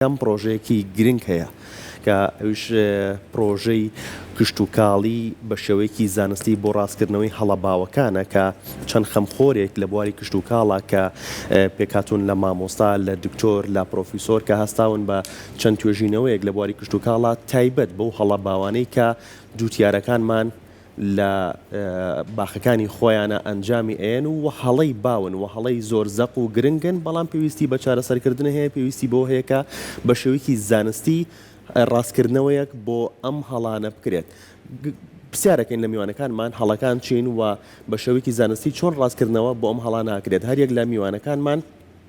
یەکەم پڕۆژەیەکی گرنگ هەیە کە ئەویش پڕۆژەی کشتوکاڵی بە شێوەیەکی زانستی بۆ ڕاستکردنەوەی هەڵە باوەکانە کە چەند خەمخۆرێک لە بواری کشتوکاڵە کە پێکاتون لە مامۆستا لە دکتۆر لە پرۆفیسۆر کە هەستاون بە چەند توێژینەوەیەک لە بواری کشتوکاڵە تایبەت بەو هەڵە باوانەی کە جوتیارەکانمان لە باخەکانی خۆیانا ئەنجامی ئەیەن و هەڵەی باون و هەڵەی زۆر زەق و گرنگن بەڵام پێویستی بە چارەسەرکردن هەیە پێویستی بەوە هەیە کە بە شێوەیەکی زانستی ڕاستکردنەوەیەک بۆ ئەم هەڵانە بکرێت پرسیارەکەین لە میوانەکانمان هەڵەکان چین و بە شێوەیەکی زانستی چۆن ڕاستکردنەوە بۆ ئەم هەڵانە ئەکرێت هەر یەک لە میوانەکانمان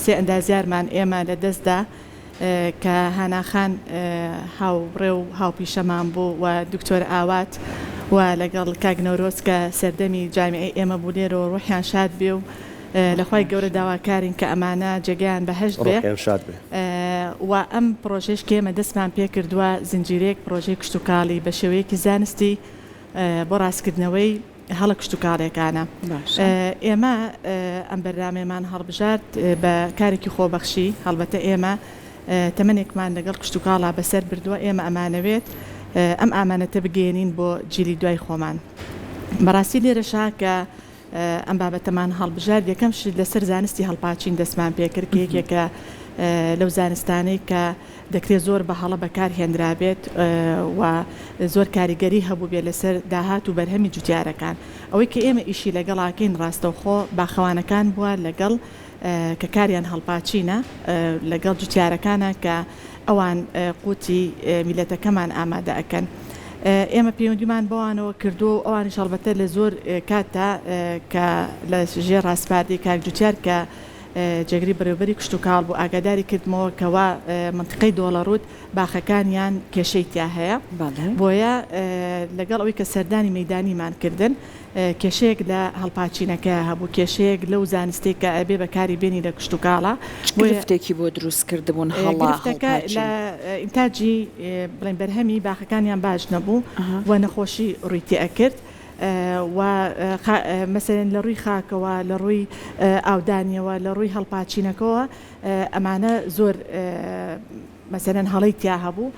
سێ ئەندازیارمان ئێمە لە دەست دا کە هانا خان هاوڕێ و هاوپیشەمان بوو و دکتۆر ئاوات و لەگەڵ کاک نەورۆز کە سەردەمی جامیعەی ئێمە بوو لێرەوە ڕوحیان شاد بێ و لە خوای گەورە داواکارین کە ئەمانە جێگەیان بەهەشت بێ ڕوحیان شاد بێ. و ئەم پڕۆژەیش کە ئێمە دەستمان پێ کردووە زنجیرەیەک پڕۆژەی کشتوکاڵی بە شێوەیەکی زانستی بۆ ڕاستکردنەوەی. هەڵە کشتوکاڵیەکانە. ئێمە ئەم بەرنامەیەمان هەڵبژارد بە کارێکی خۆبەخشی، هەڵبەتە ئێمە تەمەنێکمان لەگەڵ کشتوکاڵا بەسەر بردووە، ئێمە ئەمانەوێت ئەم ئامانەتە بگەیەنین بۆ جیلی دوای خۆمان. بەڕاستی لێرەشە کە ئەم بابەتەمان هەڵبژارد، یەکەم شت لەسەر زانستی هەڵپاچین دەستمان پێکرد کە یەکێکە لەو زانستانەی کە، دەکرێت زۆر بە هەڵە بەکارهێنرابێت و زۆر کاریگەری هەبووبێت لەسەر داهات و بەرهەمی جوتیارەکان. ئەوەی کە ئێمە ئیشی لەگەڵاکەین ڕاستەوخۆ باخەوانەکان بووە لەگەڵ کە کاریان هەڵپاچینە لەگەڵ جوتیارەکانە کە ئەوان قوتی میلەتەکەمان ئامادە ئەکەن. ئێمە پەیوەندیمان بەوانەوە کردووە و ئەوانیش هەڵبەتە لە زۆر کاتدا کە لە ژێر ڕاسپاردەی کاک جوتیار کە جێگری بەرێوەبەری کشتوکاڵ بوو، ئاگاداری کردمەوە کە وا مەنتیقەی دۆڵەڕووت باخەکانیان کێشەی تیا هەیە، بۆیە لەگەڵ ئەوەی کە سەردانی مەیدانیمان کردن کێشەیەک لە هەڵپاچینەکەیا هەبوو، کێشەیەک لەو زانستەی کە ئەبێ بەکاری بێنی لە کشتوکاڵا. چ گرفتێکی بۆ دروست کردبوون هەڵە هەڵپاچین؟ گرفتەکە لە ئینتاجی بڵێین بەرهەمی باخەکانیان باش نەبوو و نەخۆشی ڕووی تێ ئەکرد، و مەسەلەن لە ڕووی خاکەوە، لە ڕووی ئاودانیەوە، لە ڕووی هەڵپاچینەکەوە ئەمانە زۆر مەسەلەن هەڵەی تیا هەبوو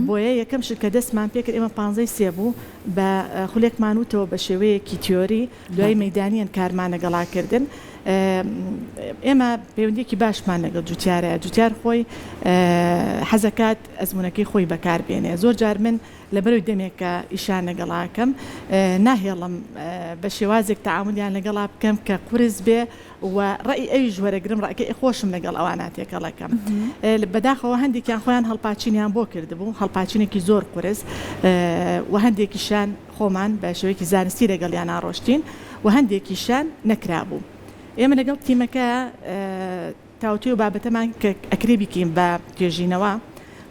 بۆیە یەکەم شت کە دەستمان پێ کرد ئێمە پانزەی سێ بوو بە خولێکمان وتەوە بە شێوەیەکی تیۆری دوای مەدانیان کارمانە گەڵاکردن ئێمە پەیوەندێکی باشمان لەگەڵ جوتیارە جوتیار خۆی حەزەکات ئەزمونونەکەی خۆی بەکار بێنێ زۆر جار من لەبەرو دەمێکە ئیشیان لەگەڵا ئەکەم ناهێڵم بە شێوازێک تەعامولیان لەگەڵا بکەم کە قورس بێ و ڕەئی ئەویش وەرەگرم ڕەکەی خۆشم لەگەڵ ئەوانە تێکەڵ ئەکەم بەداخەوە هەندێکیان خۆیان هەڵپاچینیان بۆ کردبوو هەڵپاچینێکی زۆر قورس و هەندێکیشیان خۆمان بە شێوەیەکی زانستی لەگەڵیانا ڕۆشتین و هەندێکیشیان نەکرابوو ئێمە لەگەڵ تیمەکە تاوتوێ و بابەتەمان کە ئەکرێ بیکەین بە توێژینەوە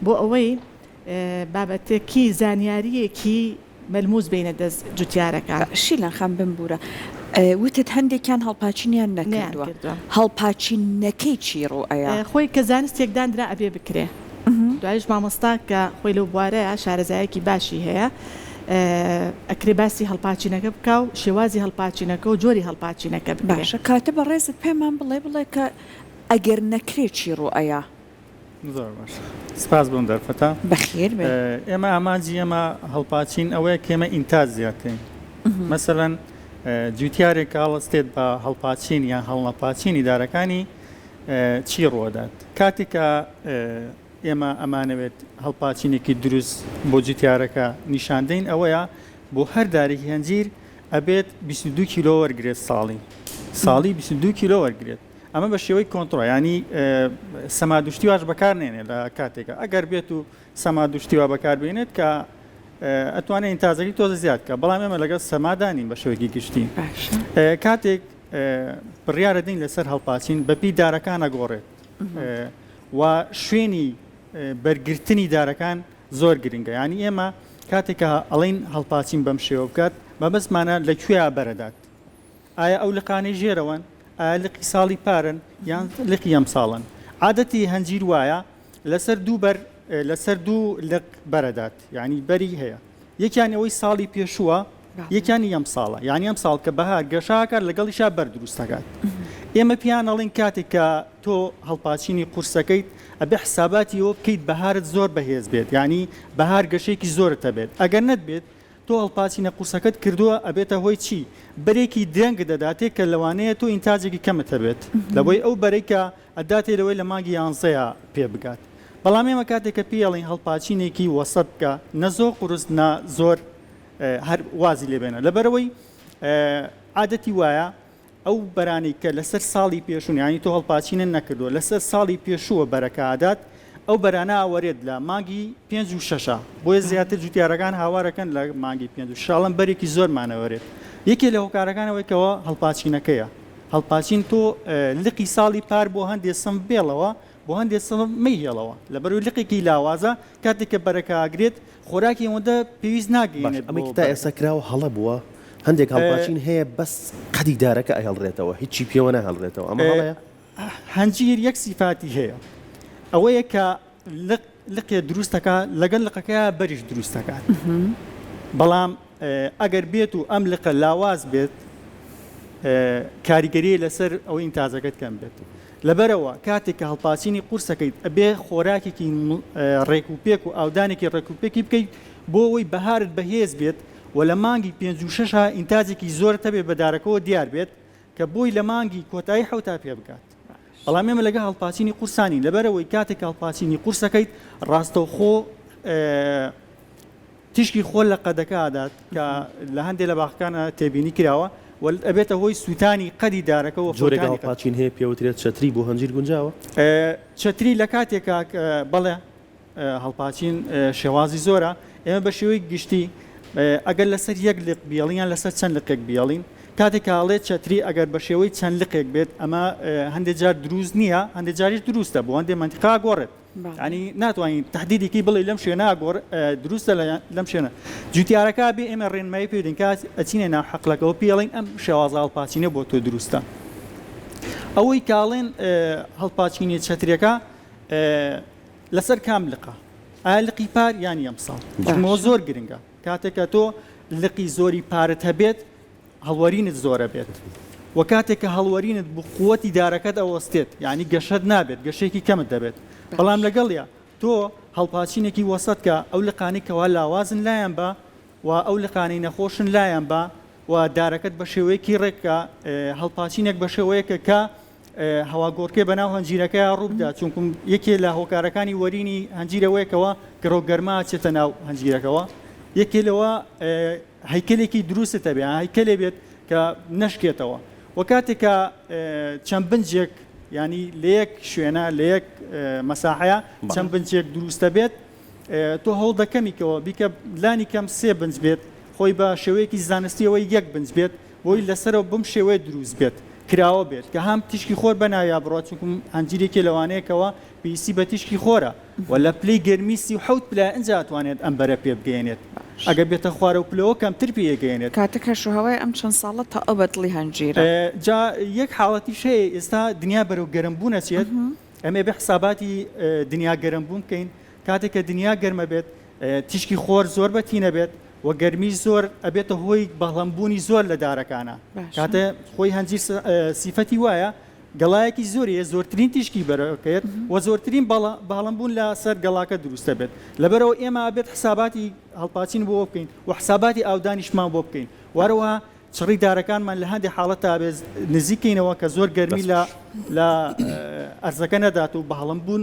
بۆ ئەوەی بابەتەکی زانیاریەکی مەلموس بێنە دەست جوتیارەکان. شیلان خان بمبورە وتت هەندێکیان هەڵپاچینیان نەکردوە هەڵپاچین نەکەی چی ڕوو ئەیا؟ خۆی کە زانستێک داندرا ئەبێ بکرێ دوایش مامۆستا کە خۆی لەو بوارەیە شارەزایەکی باشی هەیە ئەکرێ باسی هەڵپاچینەکە بکا و شێوازی هەڵپاچینەکە و جۆری هەڵپاچینەکە باشە کاتە بەڕێزت پێمان بڵێ بڵێ کە ئەگەر نەکرێ چی ڕوو ئەیا؟ زۆر باش سپاس بۆم دەرفەتە بەخێر ئێمە ئامانجی ئێمە هەڵپاچین ئەوەیە کێمە ئینتاج زیاتین مەسەەن جوتیارێک کاڵستێت بە هەڵپاچین یان هەڵنەپاچین ئیدارەکانی چی ڕۆدات کاتێکە ئێمە ئەمانەوێت هەڵپاچینێکی دروست بۆ جوتیارەکە نیشاندەین ئەوەیە بۆ هەر دارێکی هەنجیر ئەبێت 22 کیلۆ وەرگێت ساڵی ساڵی 22 کیلۆ وەرگێت ئەمە بە شێوەی کۆنتڕۆ یانی سەمادوشتیواش بەکارنێنێ لە کاتێکە ئەگەر بێت و سەمادوشتیوا بەکاربێنێت کە ئەتوانێت ئینتازەری تۆزە زیاد کە بەڵام ئێمە لەگەڵ سەمادانین بە شێوەیەکی گشتی کاتێک بڕیاە دین لەسەر هەڵپاسین بەپی دارەکانە گۆڕێت و شوێنی بەرگرتنی دارەکان زۆر گرنگە ینی ئێمە کاتێکە ئەڵین هەڵپاسین بەم شێوە بکات بەبستمانە لە کوێ بەرەدات ئایا ئەو لقانەی ژێرەوەن ئایا لقی ساڵی پارن یان لقی ئەم ساڵن عادەتی هەنجیر وایە لەسەر دوو بەر لەسەر دوو لق بەرەدات یعنی بەری هەیە یەکیان ئەوەی ساڵی پێشووە یەکیانی ئەم ساڵە یعنی ئەم ساڵ کە بەهار گەشاکات لەگەڵیشا بەر دروستەکات ئێمە پیان ئەڵین کاتێک کە تۆ هەڵپاچینی قورسەکەیت ئەبێ حساباتی ئەوە بکەیت بەهارت زۆر بەهێز بێت یعنی بەهار گەشێکی زۆرتە بێت ئەگەر نەت بێت تۆ هەڵپاچینە قورسەکەت کردووە ئەبێتە هۆی چی؟ بەرێکی درەنگت دەداتێ کە لەوانەیە تۆ ئینتاجێکی کەمت هەبێت لەوەی ئەو بەرەی کە ئەتداتێ لەوەی لە مانگی یانزەیا پێ بگات بەڵام ئێمە کاتێ کە پێی ئەڵێین هەڵپاچینێکی وەسەت بکە نە زۆر قورس نە زۆر هەر وازی لێ بێنە لەبەرئەوەی عادەتی وایە ئەو بەرانەی کە لەسەر ساڵی پێشوون یانی تۆ هەڵپاچینت نەکردووە لەسەر ساڵی پێشووە بەرەکە ئەدات ئەو بەرانە ئەوەرێت لە مانگی پێنج و شەشە بۆیە زیاتر جوتیارەکان هاوارەکەن لە مانگی پێنج و شاڵم بەرێکی زۆرمان ئەوەرێت یەکێ لە هۆکارەکان ئەوەی کەەوە هەڵپاچینەکەیە هەڵپاچین تۆ لقی ساڵی پار بۆ هەندێ سم بێڵەوە بۆ هەندێ سم مەیهێڵەوە لەبەروی لقێکی لاوازە کاتێک کە بەرەکە ئاگرێت خۆراکی ئەوەندە پێویست ناگەینێت بۆ بەرەکە. باشە ئەمەی کە تا ئێستا کراوە هەڵە بووە؟ هەندێک هەڵپاچین هەیە بەس قەدی دارەکە ئەهێڵرێتەوە هیچی پێوە ناهێڵرێتەوە ئەمە هەڵەیە؟ هەنجیر یەک سیفاتی هەیە ئەوەیە کە لق لقێ دروست دەکا لەگەل لقەکەیا بەریش دروست دەکات بەڵام ئەگەر بێت و ئەم لقە لاواز بێت کاریگەری لەسەر ئەوەی ئینتازەکەت کەم بێت. لەبەرئەوە کاتێک کە هەڵپاچینی قورس ئەکەیت ئەبێ خۆراکێکی ڕێک و پێک و ئاودانێکی ڕێک و پێکی بکەیت بۆ ئەوەی بەهارت بەهێز بێت و لە مانگی پێنج و شەشا ئینتاجێکی زۆرت هەبێت بە دارەکەوە دیار بێت کە بۆی لە مانگی کۆتایی حەوتا پێ بگات. بەڵام ئێمە لەگەڵ هەڵپاچینی قورسا نین لەبەرئەوەی کاتێک کە هەڵپاچینی قورس ئەکەیت ڕاستەوخۆ تیشکی خۆل لە قەدەکە ئەدات کە لە هەندێ لە باخەکانا تێبینی کراوە و ئەبێتە هۆی سووتانی قەدی دارەکە و جۆرێک ئاو قاچین هەیە پێوترێت چەتری بۆ هەنجیر گونجاوە؟ چەتری لە کاتێکا بەڵێ هەڵپاچین شێوازی زۆرە ئێمە بە شێوەی گشتی ئەگەر لەسەر یەک لق بیڵین یان لەسەر چەند لقێک بیڵین کاتێک کاڵێ چەتری ئەگەر بە شێوەی چەند لقێک بێت ئەمە هەندێک جار دروست نییە هەندێک جاریش دروستە بۆ هەندێ منتیقا گۆڕێت یانی ناتوانین تەحدیدیکی بڵێ لەم شوێنە گۆڕ دروستە لەم شوێنە جوتیارەکە بێ ئێمە ڕێنمایی پێ دەین کات ئەچینە ناو حەقلەکەەوە پێڵین ئەم شێوازە هەڵپاچینە بۆ تۆ دروستە ئەوەی کاڵێن هەڵپاچینی چەترەکە لەسەر کام لقە ئایا لقی پار یان یەم ساڵ زۆر گرنگە کاتێکە تۆ لقی زۆری پارت هەبێت هەڵوەرینت زۆرەبێت وە کاتێک کە هەڵوەرینت بو قوەتی دارەکەت ئەوەستێت یعنی گەشەت نابێت گەشەیەکی کەمت دەبێت بەڵام لەگەڵیا تۆ هەڵپاچینێکی وەسەت کە ئەو لقانەی کەوا لاوازن لایان بە و ئەو لقانەی نەخۆشن لایان بە و دارەکەت بە شێوەیەکی ڕێککە هەڵپاچینێک بە شێوەیەکە کە هەواگۆڕکێ بەناو هەنجیرەکە ڕووبدا چونکم یەکێ لە هۆکارەکانی وەرینی هەنجیرەوەیەکەوە گڕۆگەرما چێتە ناو هەنجیرەکەەوە یەکێ لەوە هەیکەلێکی دروستت هەبێت، یان هەیکەلێ بێت کە نەشکێتەوە و کاتێک کە چەند بنجێک ینی لە یەک شوێنە لە یەک مەساحەیە چەند بنجێک دروستە بێت تۆ هەوڵ دەکەمیکەوە بیکە لانی کەم سێ بنج بێت خۆی بە شێوەیەکی زانستیەوەی یەک بنج بێت بۆی لەسەرەوە بم شێوەیە دروست بێت کراوە بێت کە هەم تیشکی خۆر بەناویا بڕات چونکم ئەنجیرێکی لەوانەیەکەوە پێویستی بە تیشکی خۆرە و لە پلەی گەرمی سی و حەوت پلە ئینجا ئەتوانێت ئەم بەرە پێ بگەیەنێت ئەگەر بێتە خوارەوە پلەوە کەمتر پێ ئەگەیەنێت. کاتە کەش و هەوای ئەم چەند ساڵە تەئ بە دڵی هەنجیرە. جا یەک حاڵەتیش هەیە ئێستا دنیا بەرەو گەرم بوون ئەچێت ئێمە ئەبێ حساباتی دنیا گەرم بوون بکەین کاتێک کە دنیا گەرم ئەبێت تیشکی خۆر زۆر بە تین ئەبێت و گەرمیش زۆر ئەبێتە هۆی بەڵەم بوونی زۆر لە دارەکانا کاتێ خۆی هەنجیر سیفەتی وایە گەڵایەکی زۆری هەیە زۆرترین تیشکی بەرەکەێت و زۆرترین باڵم بوون لە سەر گەڵاکە دروستە بێت لەبەرەوە ئێمە بێت حساباتی هەڵپاچین بۆ بکەین و حساباتی ئاودانیشمان بۆ بکەین وارەوە چڕی دارەکانمان لە هەندێک حاڵەت تا بێت نزیکەینەوە کە زۆر گەرمی لە لە ئەرزەکە نەدات و بەهڵم بوون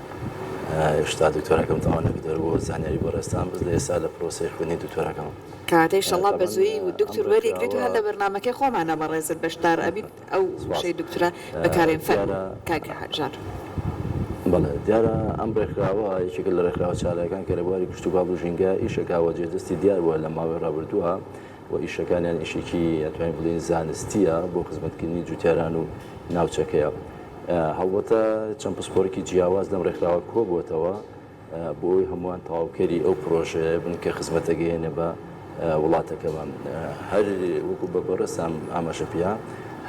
هێشتا دکتۆراکەم تەواو نەکردووە زانیاری بۆ ڕێزتان بەس لە ئێستا لە پرۆسەی خوێندنی دکتۆراکەم کاکە ئیشەڵڵا بە زوویی دکتور وەریگریت و هەر لە بەرنامەکەی خۆمانا بەڕێزت بەشدار ئەبیت ئەو وشەی دکتورا بەکارێن فەرموو کاک ژان. بەڵێ دیارە ئەم ڕێکخراوە یەکێکە لە ڕێکخراوە چالاکان کە لە بواری کشتوکاڵ و ژینگە ئیش ئەکا و جێدەستی دیار بووە لە ماوەی ڕابردووە و ئیشەکانیان ئیشێکی ئەتوانین بڵێین زانستیە بۆ خزمەتکردنی جوتیاران و ناوچەکەیە هەڵبەتە چەند پسپۆرکی جیاواز لەم ڕێکخراوە کۆبووەتەوە بۆی هەمووان تەواوکەری ئەو پرۆژەیە بن کە خزمەتە گەیەنە بە وڵاتەکەمان هەر وەکو بە بەڕێسام ئاماژە پێیا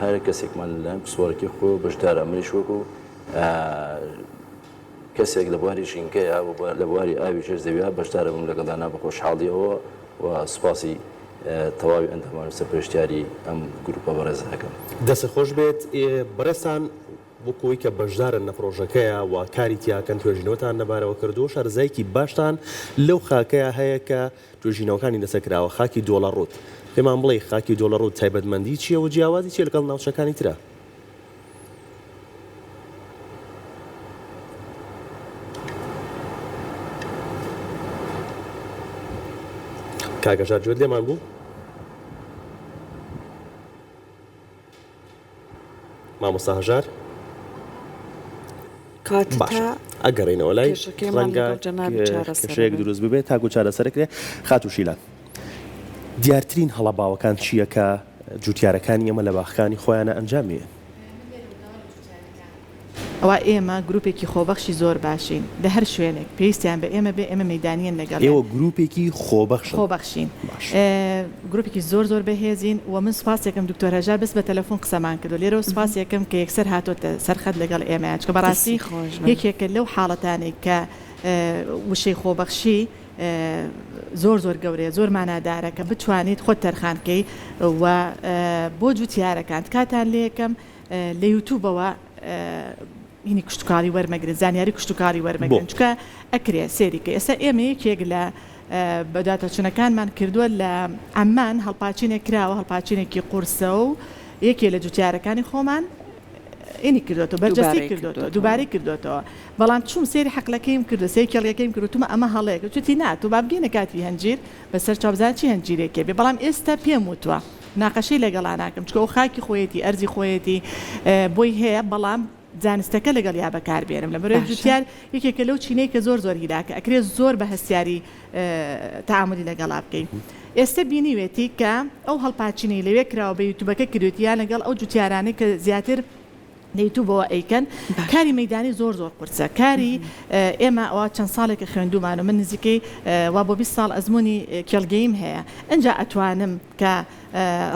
هەر کەسێکمان لەم پسوارەکەی خۆ بەشدارە منیش وەکو کەسێک لە بواری ژینگەیە و لە بواری ئاوی ژێر زەویە بەشدار بم لەگەڵدا نا بە خۆشحاڵیەوە و سوپاسی تەواوی ئەندامان و سەرپەرشتیاری ئەم گروپە بەڕێزە ئەکەم. دەستت خۆش بێت بەڕێزتان وەکو ئەوەی کە بەشدارن لە پڕۆژەکەیا و کاری تیاکەن توێژینەوەتان لەبارەوە کردووە شارەزایەکی باشتان لەو خاکەیا هەیە کە توێژینەوەکانی لەسەر کراوە خاکی دۆڵەڕووت پێمان بڵێی خاکی دۆڵەڕووت تایبەتمەندی چیە و جیاوازی چیە لەگەڵ ناوچەکانی ترا؟ کاک هەژار گوێت لێمان بوو؟ مامۆستا هەژار ئەگەڕێنەوە لای ڕەنگە کێشەیەک دروست ببێت تاکو چارەسەرکرێ خاتوو شیلان. دیارترین هەڵە باوەکان چییە کە جووتیارەکانی ئێمە لە باخەکانی خۆیانا ئەنجام یەن؟ ئەوا ئێمە گرووپێکی خۆبەخشی زۆر باشین لە هەر شوێنێک پێویستیان بە ئێمە بێ ئێمە مەیدانیین لەگەڵیان. ئێوە گرووپێکی خۆبەخشن؟ خۆبەخشین. باشە. گرووپێکی زۆر زۆر بەهێزین و من سوپاسی ئەکەم دوکتۆر هەژار بەس بە تەلەفوون قسەمان کردووە لێرەوە سوپاسی ئەکەم کە یەکسەر هاتۆتە سەر خەت لەگەڵ ئێمەیان چونکە بەڕاستی یەکێکە لەو حاڵەتانەی کە وشەی خۆبەخشی زۆر زۆر گەورەیە زۆر مانادارە کە بتوانیت خۆت تەرخان کەی و بۆ جوتیارەکان تکاتان لەکەم لە یوتوبەوە ینی کشتتوکاری وەرمەگرن زانیاری کشتتوکاری وەرمەگرن چکە ئەکرێ سێری کە ئێستا ئێمە یەکێک لە بەداتە چونەکانمان کردووە لە ئەممان هەڵپاچینێک کراوە هەڵپاچینێکی قورسە و یەکێ لە جوتیارەکانی خۆمان ینی کردۆتەوە بەرجەستەی کردۆتەوە دووبارەی کردۆتەوە بەڵام چووم سێری حەقلەکەیم کردو سێ کێڵیەکەیم کرد وتمە ئەمە هەڵەیەکە چوتی نا تۆ بابگەینە کاتی هەنجیر بەسەر چاو بزان چی هەنجیرێکێ بێ بەڵام ئێستا پێم وتوە مناقەشەی لەگەڵا ناکەم چکە ئەو خاکی خۆیەتی ئەرزی خۆیەتی بۆی هەیە بەڵام زانستەکە لەگەڵیا بەکار بێنم لەبەرەوەی جوتیار یەکێکە لەو چینەی کە زۆر زۆر هیلاکە ئەکرێ زۆر بە هەستیاری تەعامولی لەگەڵا بکەی ئێستە بینیوێتی کە ئەو هەڵپاچینەی لەوێ کراوە بە یوتوبەکە کردوێتی یان لەگەڵ ئەو جوتیارانەی کە زیاتر لە یوتوبەوە ئەیکەن کاری مەدانی زۆر زۆر قورسە کاری ئێمە ئەوە چەند ساڵێکە خوێندومان و من نزیکەی وا بۆ 20 ساڵ ئەزمموی کێڵگەیم هەیە ئەجا ئەتوانم کە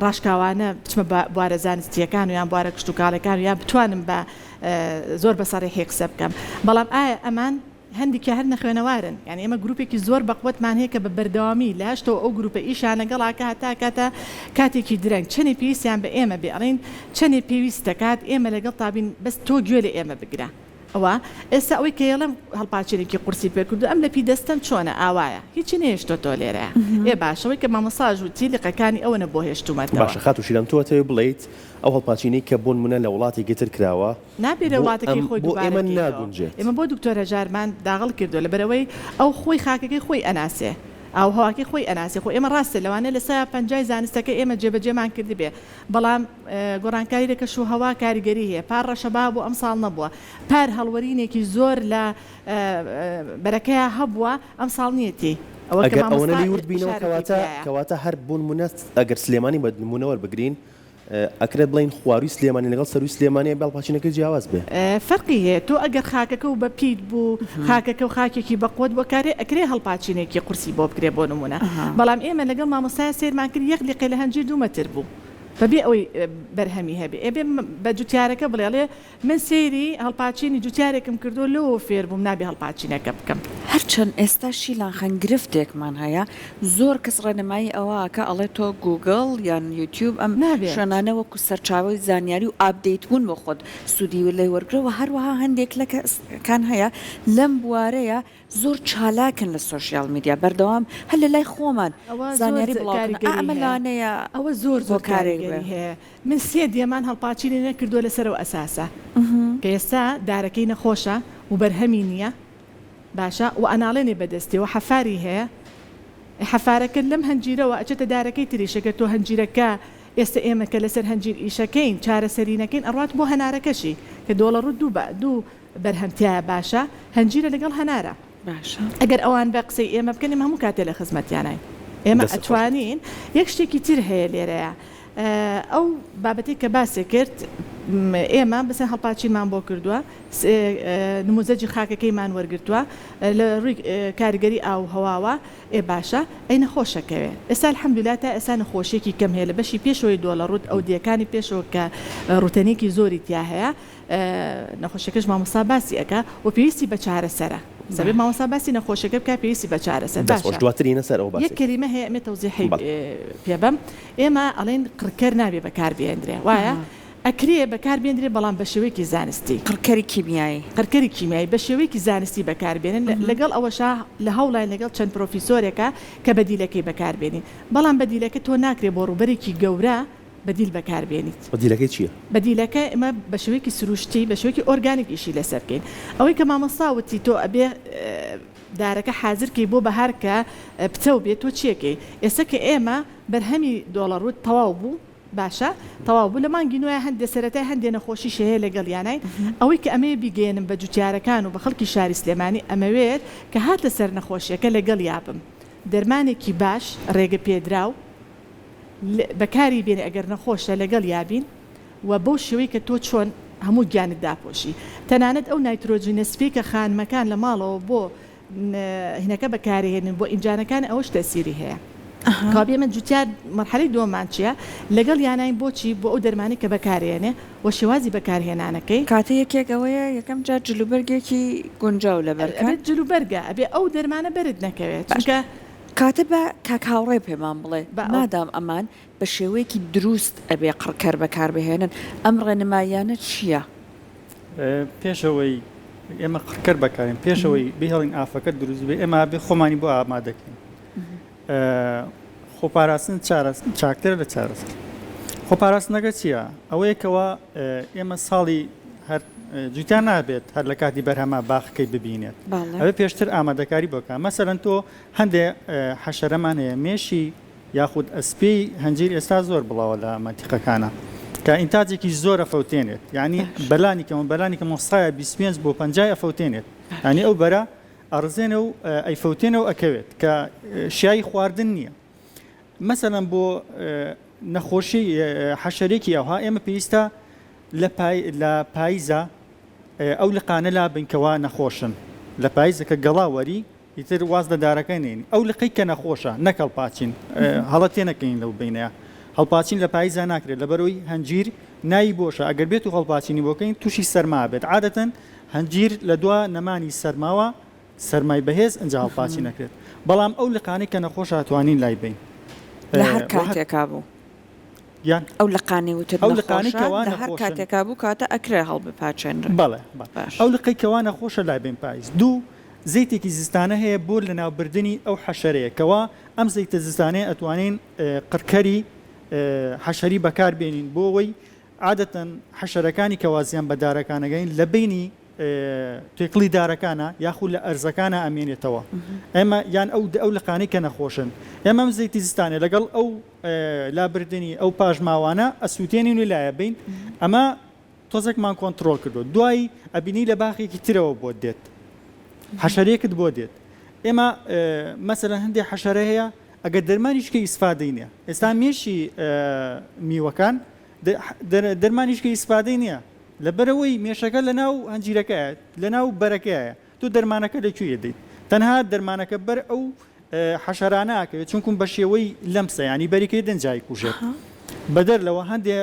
ڕاشکاوانە بچمە بوارە زانستیەکان و یان بوارە کشتتوکاڵەکان و یان بتوانم بە زۆر بەسەڕێحی قسە بکەم بەڵام ئایا ئەمان هەندیکیان هەر نەخوێنەوارن یانی ئێمە گروپێکی زۆر بەقوەتمان هەیە کە بە بەردەوامی لە هەشتەوە ئەو گروپە ئیشیان لەگەڵ ئاکا هەتا کاتە کاتێکی درەنگ چەنێ پێویستیان بە ئێمە بێ ئەڵێن چەنێ پێویست دەکات ئێمە لەگەڵ تابین بەس تۆ گوێ لە ئێمە بگرە ئەوە ئێستا ئەوەی کە یەڵێم هەڵپاچێنێکی قورسی پێ کردو ئەم لەپی دەستەم چۆنە ئاوایە هیچی نەهێشتۆتەوە لێرە ئێ باشە وەی کە مامۆستاش وتی لقەکانی ئەوەنە بۆ هێشتومەتەوە. باشە خاتو شیلان تۆ ئەتەوێ بڵێیت ئەو هەڵپاچینەی کە بۆنمونە لە وڵاتێکی تر کراوە، نابێ لە وڵاتەکەی خۆی دووبارە بکەیتەوە ئێمە بۆ دکتۆر هەژارمان داغڵ کردووە لەبەرئەوەی ئەو خۆی خاکەکەی خۆی ئەناسێ ئاووهەواکەی خۆی ئەناسێ خۆ ئێمە ڕاستە لەوانەیە لە سەیا پەنجای زانستەکەی ئێمە جێبەجێمان کردبێ بەڵام گۆڕانکاری لە کەش و هەوا کاریگەری هەیە پار ڕەشەبا بۆ ئەمساڵ نەبووە پار هەڵوەرینێکی زۆر لە بەرەکەیا هەبووە ئەمساڵ نیەتی ئەگەر ئەوەنە لێی ورد بینەوە کەواتە کەواتە هەر بۆ نموونە ئەگەر سلێمانی بە نموونە وەربگرین ئەکرێت بڵێین خوارووی سلێمانی لەگەڵ سەرووی سلێمانیە بەڵ پاچینەکەی جیاواز بێ. فەرقی هەیە تۆ ئەگەر خاکەکە و بەپیت بوو خاکەکە و خاکێکی بەقوەت بوو ئەکارێ ئەکرێ هەڵپاچینێکی قورسی بۆ بکرێ بۆ نموونە بەڵام ئێمە لەگەڵ مامۆستایە سەیرمان کرد یەک لقێ لە هەنجیر دوو مەتر بوو بەبێ ئەوەی بەرهەمی هەبێ ئەبێ بە جوتیارەکە بڵێ ئەڵێ من سەیری هەڵپاچینی جوتیارێکم کردووە لەوەوە فێر بووم نابێ هەڵپاچینەکە بکەم. هەرچەند ئێستا شیلان خان گرفتێکمان هەیە زۆر کەس ڕێنمایی ئەوە ئەکا ئەڵێ تۆ گووگڵ یان یوتیوب ئەم نابێ. شوێنانە وەکو سەرچاوەی زانیاری و ئاپدەیت بوون بۆ خۆت سوودی لێ وەرگرە وە هەروەها هەندێک لە کەس کان هەیە لەم بوارەیە زۆر چالاکن لە سۆشیال میدیا بەردەوام هەر لە لای خۆمان ئەوە زۆر زانیاری بڵاو کاریگەری کردن ئا ئەمە هەیە لانەیە ئەوە زۆر زۆر هۆکارێک بێ. کاریگەری هەیە من سێ دێمان هەڵپاچینی نەکردووە لەسەر ئەو ئەساسە کە ئێستا دارەکەی نەخۆشە و بەرهەمی نییە باشە و ئەناڵێنێ بە دەستی و حەفاری هەیە ئێ حەفارەکەت لەم هەنجیرەوە ئەچێتە دارەکەی تریش ئەگەر تۆ هەنجیرەکە ئێستا ئێمە کە لەسەر هەنجیر ئیشەکەین چارەسەری نەکەین ئەڕوات بۆ هەنارەکەشی کە دۆڵەڕووت دوو بە دوو بەرهەم تیایە باشە هەنجیرە لەگەڵ هەنارە باشە ئەگەر ئەوان بە قسەی ئێمە بکەن ئێمە هەموو کاتێ لە خزمەتیاناین ئێمە دەست خۆش. ئەتوانین یەک شتێکی تر هەیە لێرەیا ئەو بابەتەی کە باسی کرد م، ئێمە بسە هەڵپاچینمان بۆ کردووە س، ە نموزەجی خاکەکەیمان وەرگرتووە لە ڕووی ک، کاریگەری ئاو و هەواوە ئێ باشە ئەی نەخۆشە کەوێ ئێستا الحمدللە تا ئێستا نەخۆشیەکی کەم هەیە لە بەشی پێشەوەی دۆڵەڕووت ئەودیەکانی پێشەوە کە ڕووتەنیەکی زۆری تیا هەیە نەخۆشیەکەش مامۆستا باسی ئەکا و پێویستی بە چارەسەرە سەبێ مامۆستا باسی نەخۆشیەکە بکا پێویستی بە چارەسەر دەست خۆش دواتر یینە سەر ئەو باسەی یەک کەلیمە هەیە ئەمێ تەوزیحی پێ بەم ئێمە ئەڵێن قڕکەر نابێ بەکار بێندرێ وایە ئەکرێ بەکار بێندرێ بەڵام بە شێوەیەکی زانستی قڕکەری کیمیایی قڕکەری کیمیایی بە شێوەیەکی زانستی بەکار بێنن لەگەڵ ئەوەشا لە هەوڵین لەگەڵ چەند پرۆفیسۆرێکە کە بەدیلەکەی بەکار بێنین بەڵام بەدیلەکە تۆ ناکرێ بۆ ڕووبەرێکی گەورە بەدیل بەکار بێنیت. بەدیلەکەی چیە؟ بەدیلەکە ئێمە بە شێوەیەکی سروشتی بە شێوەیەکی ئۆرگانیک ئیشی لەسەر کەین ئەوەی کە مامۆستا وتی تۆ ئەبێ دارەکە حازر کەی بۆ بەهار کە پتەو بێت تۆ چیەکەی ئێستا کە ئێمە بەرهەمی دۆڵە ڕووت تەواو بوو باشە تەواو بوو لە مانگی نۆیە هەندێ سەرەتای هەندێ نەخۆشی شەیە لەگەڵیانین ئەوەی کە ئەمەیە بیگەیەنم بە جوتیارەکان و بە خەڵکی شاری سلێمانی ئەمەوێت کە هاتە سەر نەخۆشیەکە لەگەڵیا بم دەرمانێکی باش ڕێگە پێدراو بەکاری بێنێ ئەگەر نەخۆشە لەگەڵ یا بین وە بەو شێوەی کە تۆ چۆن هەموو گیانت داپۆشی تەنانەت ئەو نایترۆجینە سپیەی کە خانمەکان لە ماڵەوە بۆ هینەکە بەکارێنن بۆ ئینجانەکان ئەوەش تەسیری هەیە کوا بێ من جوتیار مەرحەلەی دووەممان چیە لەگەڵ یاناین بۆچی بۆ ئەو دەرمانەی کە بەکارێنێ وە شێوازی بەکارهێنانەکەی. کاتە یەکێک ئەوەیە یەکەم جار جلوبەرگێکی گونجاو لەبەرکەن. ئەبێت جلوبەرگە ئەبێ ئەو دەرمانە بەرت نەکەوێت چونکە کاتە با کاک هاوڕێ پێمان بڵێ بە ئەو. مادام ئەمان بە شێوەیەکی دروست ئەبێ قڕکەر بەکار بهێنن ئەم ڕێنماییانە چییە؟ پێش ئەوەی ئێمە قڕکەر بەکارین پێش ئەوەی بهێڵین ئافەکە دروست بێ ئێمە ئەبێ خۆمانی بۆ ئامادەکەین خۆپاراستن چارەس چاکترە لە چارەسەر خۆپاراستنەکە چییە؟ ئەوەیەکەوە ئێمە ساڵی هەر جوتیار نابێت هەر لە کاتی بەرهەمە باخەکەی ببینێت ئەوێ پێشتر ئامادەکاری بۆکە مەسەرەن تۆ هەندێ حەشەرەمان هەیە مێشی یاخود ئەسپی هەنجیر ئێستا زۆر بڵاوە لە مەنتیقەکانە کە ئینتاجێکی زۆرە فەوتێنێت ینی بەلانی کەمە بەلانی کە مۆسایە 25 بۆ 50 ئەفەوتێنێت ینی ئەو بەرە ئەڕزێنە و ئەیفەوتێنە و ئەکەوێت کە شایی خواردن نییە مەسەەن بۆ نەخۆشی حەشەرێکی ئەوها ئێمە پێویستە لە پاییزە ئەو لقانە لا بنکەوە نەخۆشن لە پاییزەکە گەڵاوەری ئیتر واز لە دارەکە نین ئەو لقی کە نەخۆشە نەکەڵ پاچین هەڵە تێ نەکەین لەو بینەیە هەڵپاچین لە پاییزە ناکرێت لە بەرەوەی هەنجیر ناوی بۆشە ئەگەر بێت و هەڵپاچینی بۆکەین تووشی سەرما بێت عادەتەن هەنجیر لە دوا نەمانی سەرماوە سەرمای بەهێز ئنجا هەڵپاچی نەکرێت بەڵام ئەو لقانەی کە نەخۆش هاتوانین لای بەین لە هەر کاتێکا بوو یان ئەو لقانەی وتت ئەو لقانەی کەوا لە هەر کاتێکا بوو کاتە ئەکرێ هەڵبپاچێنرێ بەڵێ باش ئەو لقەی کەوا نەخۆشە لای بەین پایز دوو زەیتێکی زستانە هەیە بۆ لەناوبردنی ئەو حەشەرەیە کەوا ئەم زەیتە زستانەیە ئەتوانین قڕکەری حەشەری بەکار بێنین بۆ ئەوەی عادەتەن حەشەرەکانی کەوا زیان بە دارەکان ئەگەین لە بەینی تێکڵی دارەکانا یاخو لە ئەرزەکانا ئەمێنێتەوە ئێمە یان ئەو ئەو لقانەی کە نەخۆشن ئێمە ئەم زەیتی زستانێ لەگەڵ ئەو لابردنی ئەو پاشماوانە ئەسووتێنین و لایە بین ئەمە تۆزێکمان کۆنتترۆل کردو دوایی ئەبینی لە باخێکی ترەوە بۆ دێت حەشەرێکت بۆ دێت ئێمە مەسەرە هەندێک حەشەرە هەیە ئەگەر دەرمانیشکە ئیسفادەینە ئێستا مێشی میوەکان دەرمانیش کە ئیسفادەی نیە لەبەرئەوەی مێشەکە لەناو هەنجیرەکەیە لەناو بەرەکەیە تۆ دەرمانەکە لە کوێ دەیت تەنها دەرمانەکە بەر ئەو حەشەرانەکەوێت چونکم بە شێوەی لەمسە ینی بەریکەی دەنجای کوژێت بەدەر لەوە هەندێ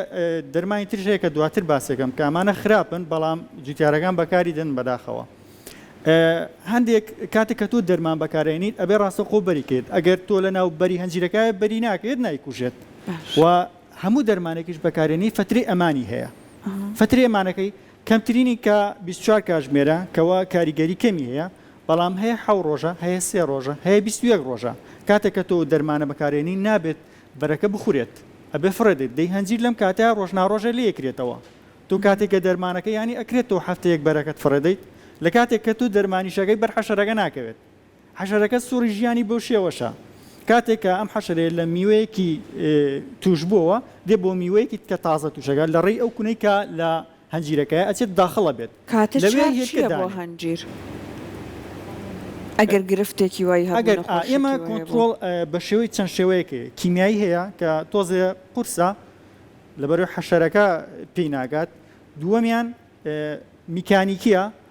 دەرمانی ترش هەیە کە دواتر باسێکم کە ئەمانە خراپن بەڵام جوتیارەکان بەکاری دەن بەداخەوە هەندێک کاتێک کە تۆ دەرمان بەکارێنیت ئەبێ ڕاستەخۆ بەریکێت ئەگەر تۆ لە ناو بەری هەنجیرەکە بەری ناکرێت نایکوژێت و هەموو دەرمانێکیش بەکارهێنی فەترەی ئەمانی هەیە فەترەی ئەمانەکەی کەمترینی کە بیست چوار کاژمێرە کەوا کاریگەری کەمی هەیە بەڵام هەیە حەو ڕۆژە هەیە سێ ڕۆژە هەیە بیست و یەک ڕۆژە کاتێک کە تۆ دەرمانە بەکارێنی نابێت بەرەکە بخورێت ئەبێ فڕێ دێت دەی هەنجیر لەم کاتە ڕۆژ ناڕۆژە لێ یەکرێتەوە تۆ کاتێک کە دەرمانەکە یانی ئەکرێت تۆ هەفتەیەک بەرەکەت فڕێ دەیت لە کاتێک کە تۆ دەرمانیشەکەی بەر حەشەرەکە ناکەوێت حەشەرەکە سوڕی ژیانی بەو شێوەشە، کاتێک کە ئەم حەشەرەیە لە میوەیەکی تووشبووەوە دێ بۆ میوەیەکی تکە تازە تووشەکە لە ڕێی ئەو کونەی کە لە هەنجیرەکەیە ئەچێت داخڵ ئەبێت کاتە لەوێ چاک هێلکە چیە بۆ دانێ. هەنجیر ئەگەر گرفتێکی وای هەبوو ئەگەر ئا نەخۆشێکی ئێمە وای هەبوو؟ کۆنتڕۆڵ ئە، بە شێوەی چەند شێوەیەک هەیە، کیمیایی هەیە کە تۆزێ قورسە لەبەرەوەی حەشەرەکە پێی ناگات، دووەمیان ئە، میکانیکییە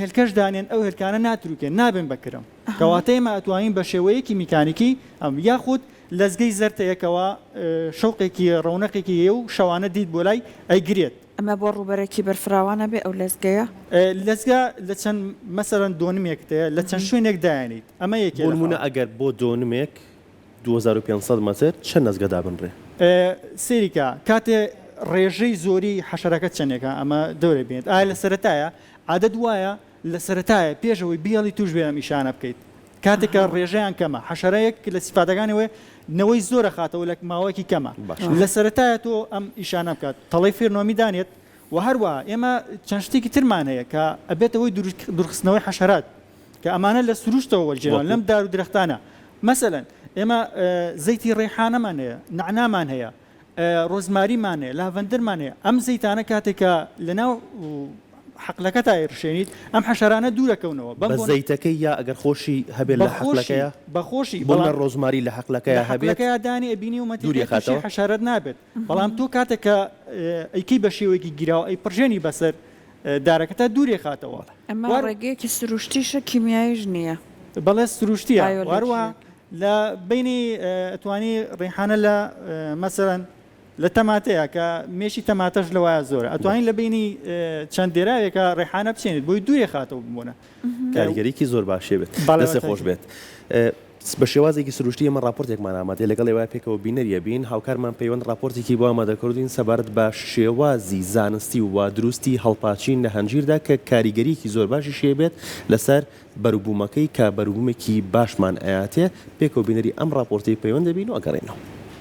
هێلکەش دانێن ئەو هێلکانە ناتروکێن نابن بە کرم کەواتە ئێمە ئەتوانین بە شێوەیەکی میکانیکی ئەم یاخود لەزگەی زەرتەیەکەوە شوقێکی ڕونەقێکی هەیە و شەوانە دیت بۆ لای ئەیگرێت ئەمە بۆ ڕوبەرەکی بەرفراوانە بێ ئەو لەزگەیە لەزگە لە چەند مەسەرەن دۆنمێکتەیە لە چەند شوێنێک دایێنیت ئەمە یەکێ بۆ نمونە ئەگەر بۆ دۆنمێک دوو هەزار و پێنج سەد مەتر چەند نەزگە دابنرێ؟ سەیری کە کاتێ ڕێژەی زۆری حەشەرەکە چەنێکە ئەمە دەورێ بێنێت ئایا لە سەرەتایە عادەت وایە لە سەرەتایە پێش ئەوەی بیەڵی توش بێ ئەم ئیشانە بکەیت کاتێک کە ڕێژەیان کەمە حەشەرەیەک کە لە سیفاتەکانی وێ نەوەی زۆرە خاتەوە لە ماوەیەکی کەمە لە سەرەتایە تۆ ئەم ئیشانە بکات تەڵەی فێرنۆمی دانێت وە هەروەها ئێمە چەند شتێکی ترمان هەیە کە ئەبێتەوەی دورخستنەوەی حەشەرات کە ئەمانە لە سروشتەوە وەرگێڕاون، وەکو؟ لەم دار و درەختانە، مەسەلەن ئێمە زەیتی ڕەیحانەمان هەیە، نەعنامان هەیە، ڕۆزماریمان هەیە، لاڤەندەرمان هەیە، ئەم زەیتانە کاتێک کە لەناو حەقلەکەتا ئەیڕشێنیت، ئەم حەشەرانە دوور ئەکەونەوە، بەم بە بۆنە. زەیتەکەی یا ئەگەر خۆشی هەبێت بە لە خۆشی، حەقلەکەیا؟ بە خۆشی، بۆ بەڵام. نە ڕۆزماری لە حەقلەکەیا لە هەبێت؟ حەقلەکەیا دانی ئەبینی و مەتێ دووری تووشی ئەخاتەوە؟ حەشارەت نابێت، بەڵام تۆ کاتێک کە ئەیکەی بە شێوەیەکی گیراو، ئەیپڕژێنی بەسەر دارەکە تا دوورێ خاتەوە. ئەمە ڕێگەیەکی سروشتیشە کیمیاییش نییە. بەڵێ سروشتییە و هەروەها لە بەینی ئەتوانی ڕیحانە لە مەسەلەن لە تەماتەیە کە مێشی تەماتەش لەوایە زۆرە ئەتوانین لە بینی چەند دێراوێکە ڕێحانە بچێنێت بۆی دوێ خاتەوە بمونە کاریگەریکی زۆر باشی ئەبێت. دەستت خۆش بێت. بە شێوازێکی سروشتی ئێمە ڕاپۆرتێکمان ئامادەیە لەگەڵ ئێوە پێکەوە بینەری ئەبین، هاوکارمان پەیوەند ڕاپۆرتێکی بۆ ئامادە کردووین سەبارەت بە شێوازی زانستی و وادروستی هەڵپاچین لە هەنجیردا کە کاریگەریکی زۆر باشیشی ئەبێت لەسەر بەروبوومەکەی کە بەروبوومێکی باشمان ئەیاتێ، پێکەوە بینەری ئەم ڕاپۆرتەی پەیوەند ئەبین و ئەگەڕێینەوە.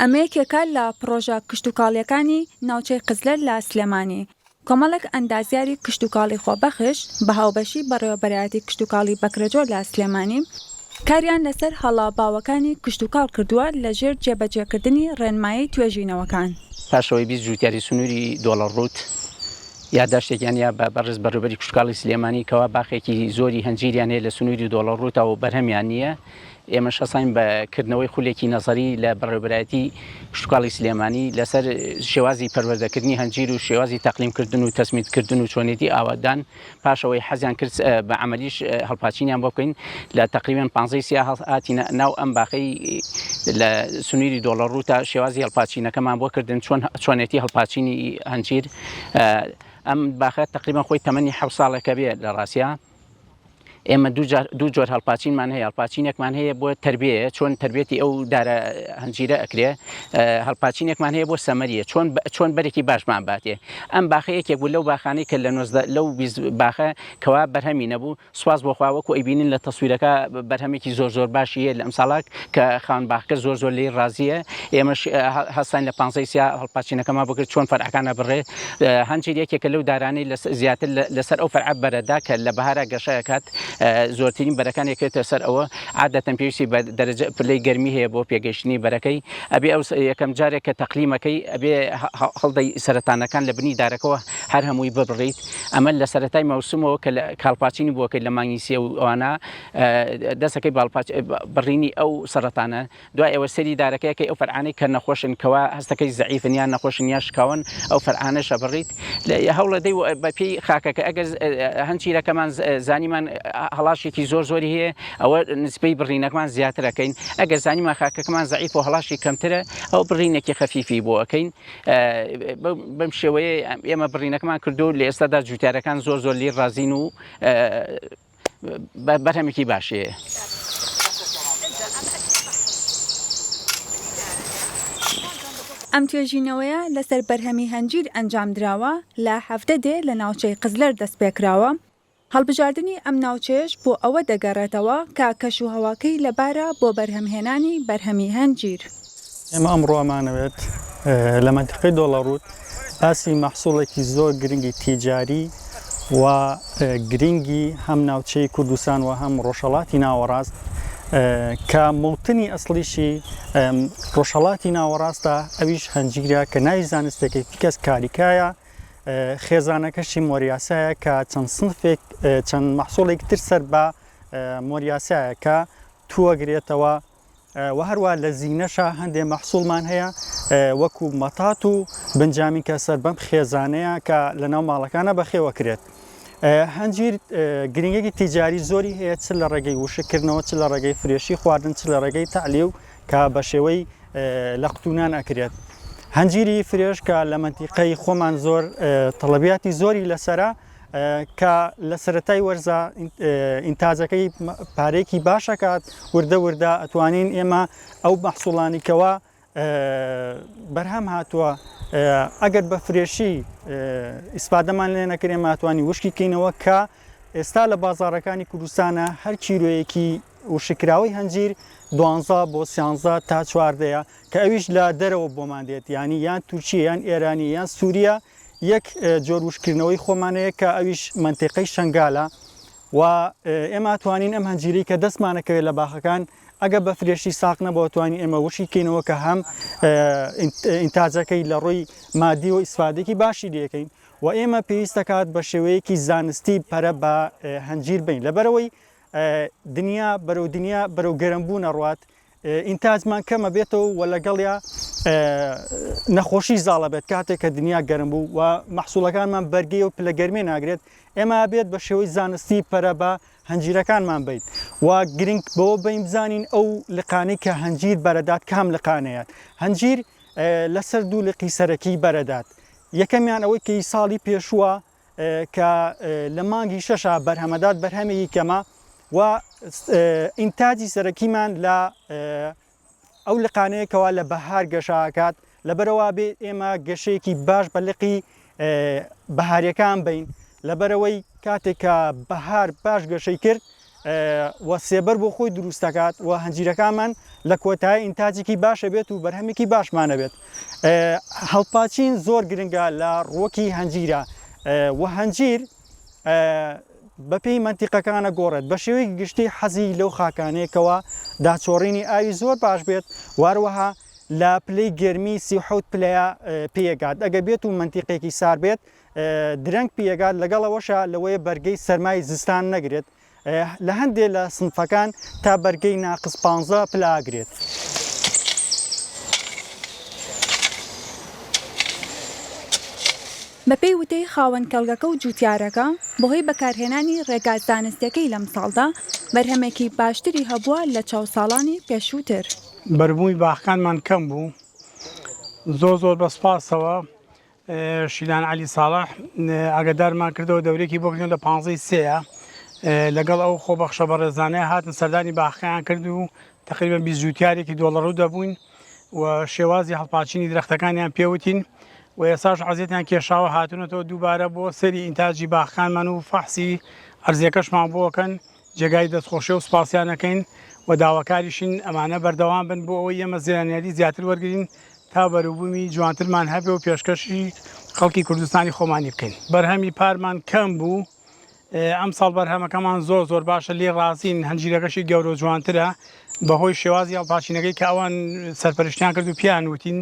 ئەمە یەکێکە لە پڕۆژە کشتوکاڵییەکانی ناوچەی قزلەر لە سلێمانی. کۆمەڵێک ئەندازیاری کشتوکاڵی خۆبەخش بە هاوبەشی بەڕێوەبەرایەتی کشتوکاڵی بەکرەجۆ لە سلێمانی، کاریان لەسەر هەڵە باوەکانی کشتوکاڵ کردووە لەژێر جێبەجێکردنی ڕێنمایی توێژینەوەکان. پاش ئەوەی بیست جووتیاری سنووری دۆڵە ڕووت یاداشتێکیان یا بە بەڕێز بەڕێوبەری کشتوکاڵی سلێمانی کەوا باخێکی زۆری هەنجیریان هەیە لە سنووری دۆڵە ڕووتەوە و بەرهەمیان نییە ئێمەش هەستاین بە کردنەوەی خولێکی نەزەری لە بەڕێوەبەرایەتی کشتوکاڵی سلێمانی لەسەر شێوازی پەروەردەکردنی هەنجیر و شێوازی تەقلیمکردن و تەسمیدکردن و چۆنێتی ئاوادان پاش ئەوەی حەزیان کرد بە عەمەلیش هەڵپاچینیان بۆ بکەین لە تەقریبەن پانزەی سیا هاتینە ناو ئەم باخەی لە سنویری دۆڵەڕوو تا شێوازی هەڵپاچینەکەمان بۆ کردن چۆن چۆنێتی هەڵپاچینی هەنجیر ئەم باخە تەقریبەن خۆی تەمەنی حەوت ساڵێکە بێ لە ڕاستیا. ئێمە دوو جار دوو جۆر هەڵپاچینمان هەیە هەڵپاچینێکمان هەیە بۆ تربیەیە چۆن تربێتی ئەو دارە هەنجیرە ئەکرێ هەڵپاچینێکمان هەیە بۆ سەمەریە چۆن چۆن بەرێکی باشمان باتێ ئەم باخە یەکێک بوو لەو باخانەی کە لە نۆزدە لەو باخە کەوا بەرهەمی نەبوو سواز بۆخواوەکو ئەیبینین لە تەسویرەکە بەرهەمێکی زۆر زۆر باشی هەیە لە ئەم ساڵاک کە خاوەن باخەکە زۆر زۆر لێی ڕازییە ئێمەش هەستاین لە پانزەی سیا هەڵپاچینەکەمان بۆ کرد چۆن فەرعەکان ئەبڕێ هەنجیر یەکێکە لەو دارانەی لە زیاتر لەسەر ئەو فەرعە بەرەدا کە لە بەهارا گەشە ئەکات زۆرترین بەرەکان ئەکەوێتە سەر ئەوە عادەتەن پێویستی بە دەرەجە پلەی گەرمی هەیە بۆ پێگەیشتنی بەرەکەی ئەبێ ئەو یەکەم جارێک کە تەقلیمەکەی ئەبێ هەڵدەی سەرەتانەکان لە بنی دارەکەوە هەر هەمووی ببڕیت ئەمە لە سەرەتای مەوسمەوە کە کاڵپاچینی بۆکەی لە مانگی سێ و ئەوانە دەسەکەی باڵپاچ بڕینی ئەو سەڕەتانە دوای ئەوە سەیری دارەکەیەکەی ئەو فەرعانەی کە نەخۆشن کەوا هەستەکەی زەعیفن یان نەخۆشن یان شکاون ئەو فەرعانەش ئەبڕیت هەوڵەدەی بەپێی خاکەکە ئەگەر هەند چیرەکەمان زانیمان هەڵاشێکی زۆر زۆری هەیە ئەوە نسبەی بڕینەکەمان زیاتر ئەکەین ئەگەر زانیمان خاکەکەمان زەعیف و هەڵاشی کەمترە ئەو بڕینێکی خەفیفی بۆ ئەکەین بەم شێوەیە ئێمە بڕینەکەمان کردو لە ئێستادا جوتیارەکان زۆر زۆر لێی ڕازین و بەرهەمێکی باشێ. ئەم توێژینەوەیە لەسەر بەرهەمی هەنجیر ئەنجامدراوە لە حەڤدە دێ لە ناوچەی قزلەر دەستپێکراوە، هەڵبژاردنی ئەم ناوچەیەش بۆ ئەوە دەگەڕێتەوە کە کەشوهەواکەی لەبارە بۆ بەرهەمهێنانی بەرهەمی هەنجیر. ئێمە ئەمڕۆ ئەمانەوێت لە مەنتیقەی دۆڵەڕووت باسی مەحسوڵێکی زۆر گرنگی تیجاری و گرنگی هەم ناوچەی کوردستان و هەم ڕۆژهەڵاتی ناوەڕاست کە موڵتنی ئەسڵیشی ڕۆژهەڵاتی ناوەڕاستە ئەویش هەنجیرە کە ناوی زانستێکی فیکەس کاریکایە خێزانەکەشی مۆریاسایە کە چەند سنفێک چەند مەحسوڵێک تر سەر بە مۆریاسایە کە توەگرێتەوە وە هەروا لە زینەشا هەندێ مەحسوڵمان هەیە وەکو مەتات و بنجامین کە سەر بەم خێزانەیە کە لە ناو ماڵەکانە بەخێوە کرێت هەنجیر گرنگێکی تیجاری زۆری هەیە چ لە ڕێگەی وشکردنەوە چ لە ڕێگەی فرێشی خواردن چ لە ڕێگەی تەعلی و کە بە شێوەی لە قوتونان ئەکرێت هەنجیری فرێش کە لە منتیقەی خۆمان زۆر تەڵەبیاتی زۆری لەسرە کە لە سەرەتای وەرزە ئینتاجەکەی پارێکی باشەکات وردە وردە ئەتوانین ئێمە ئەو مەحسوڵانی کەوا بەرهەم هاتووە ئەگەر بە فرێشی ئیسپادەمان لێ نەکرێ ماتوانی وشکی کەینەوە کە ئێستا لە بازارەکانی کوردستانە هەر چیرۆیەکی وشککراوەی هەنجیر دوانزە بۆ سیانزە تا چواردەیە کە ئەویش لە دەرەوە بۆمان دێت یانی یان تورکیە یان ئێرانی یان سوریە یەک جۆر وشککردنەوەی خۆمان هەیە کە ئەویش مەنتیقەی شەنگالە و ئێمە ئەتوانین ئەم هەنجیرەی کە دەستمانە کەوێت لە باخەکان ئەگە بە فرێشی ساق نەبوو ئەتوانین ئێمە وشکی کەینەوە کە هەم ئینتاجەکەی لە ڕووی مادیەوە ئیسفادێکی باشی لەکەین و ئێمە پێویستەکات بە شێوەیەکی زانستی پەرە بە هەنجیر بین لەبەرەوەی دنیا بەرەو دنیا بەرەو گەرم بوون ئەڕوات ئینتاجمان کەمە بێتەوە و لەگەڵیا نەخۆشی زاڵە بێت کاتێک کە دنیا گەرم بوو و مەحسوڵەکانمان بەرگی و پلە گەرمێ ناگرێت ئێمە بێت بە شێوەی زانستی پەرە بە هەنجیرەکانمان بیت و گرنگ بەوە بین بزانین ئەو لقانەی کە هەنجیر بەرەدات کام لقانەیەت هەنجیر لەسەر دوو لقی سەرەکی بەرەدات یەکەمیان ئەوەی کەی ساڵی پێشووە کە لە مانگی شەشا بەرهەمەدات بەرهەمێکی کەمە و ئینتاجی سەرەکیمان لە ئەو لقانەیەکەوە لە بەهار گەشاکات لەبەرەوە بێ ئێمە گەشەیەکی باش بە لقی بەهارەکان بین لەبەرەوەی کاتێک کە بەهار باش گەشەی کرد و سێبەر بۆ خۆی دروست دەکات و هەنجیرەکانمان لە کۆتایی ئینتاجێکی باش هەبێت و بەرهەمێکی باشمان هەبێت. هەڵپاچین زۆر گرنگە لە ڕووەکی هەنجیرە و هەنجیر بەپێی مەنتیقەکانە گۆڕێت بە شێوەیەکی گشتی حەزی لەو خاکانەیە کەوا داچۆڕینی ئاوی زۆر باش بێت و هەروەها لە پلەی گەرمی سی و حەوت پلەیە پێیەگات ئەگەر بێت و مەنتیقێکی سار بێت درەنگ پیەگات لەگەڵ ئەوەشا لەوەیە بەرگەی سەرمای زستان نەگرێت لە هەندێ لە سنفەکان تا بەرگەی ناقس پانزە پلە ئەگرێت. بەپێی وتەی خاوەن کێڵگەکە و جووتیارەکە، بەهۆی بەکارهێنانی ڕێگا زانستییەکەی لەمساڵدا بەرهەمێکی باشتری هەبووە لەچاو ساڵانی پێشووتر. بەربوومی باخەکانمان کەم بوو زۆر زۆر بە سوپاسەوە شیلان عەلی ساڵح ئاگادارمان کردەوە دەورێکی بۆ کردن لە پانزەی سێیە لەگەڵ ئەو خۆبەخشە بەڕێزانەیە هاتن سەردانی باخەیان کرد و تقریبا بیست جووتیارێکی دۆڵەڕوو دەبووین و شێوازی هەڵپاچینی درەختەکانیان پێوتین و ئێساش عەزیەتیان کێشاوە هاتونەتەوە دووبارە بۆ سەری ئینتاجی باخەکانمان و فەحسی ئەرزیەکەشمان بۆکەن جێگای دەستخۆشی و سپاسیانەکەین و داواکاریشین ئەمانە بەردەوام بن بۆ ئەوەی ئێمە زیانیاری زیاتر وەرگرین تا بەروبوومی جوانترمان هەبێ و پێشکەشی خەڵکی کوردستانی خۆمانی بکەین. بەرهەمی پارمان کەم بوو، ئەمساڵ بەرهەمەکەمان زۆر زۆر باشە، لێی ڕازین، هەنجیرەکەشی گەورە و جوانترە، بەهۆی شێوازی هەڵپاچینەکەی کە ئەوان سەرپەرشتیان کرد و پێیان وتین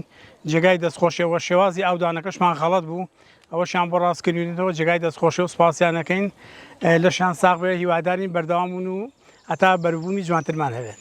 جێگای دەستخۆشیە وە شێوازی ئاودانەکەشمان غەڵەت بوو، ئەوەشیان بۆ ڕاست کردوینەتەوە، جێگای دەستخۆشیە و سوپاسیان ئەکەین، لەشیان ساغ بێ، هیوادارین بەردەوام بن و هەتا بەروبوومی جوانترمان هەبێت.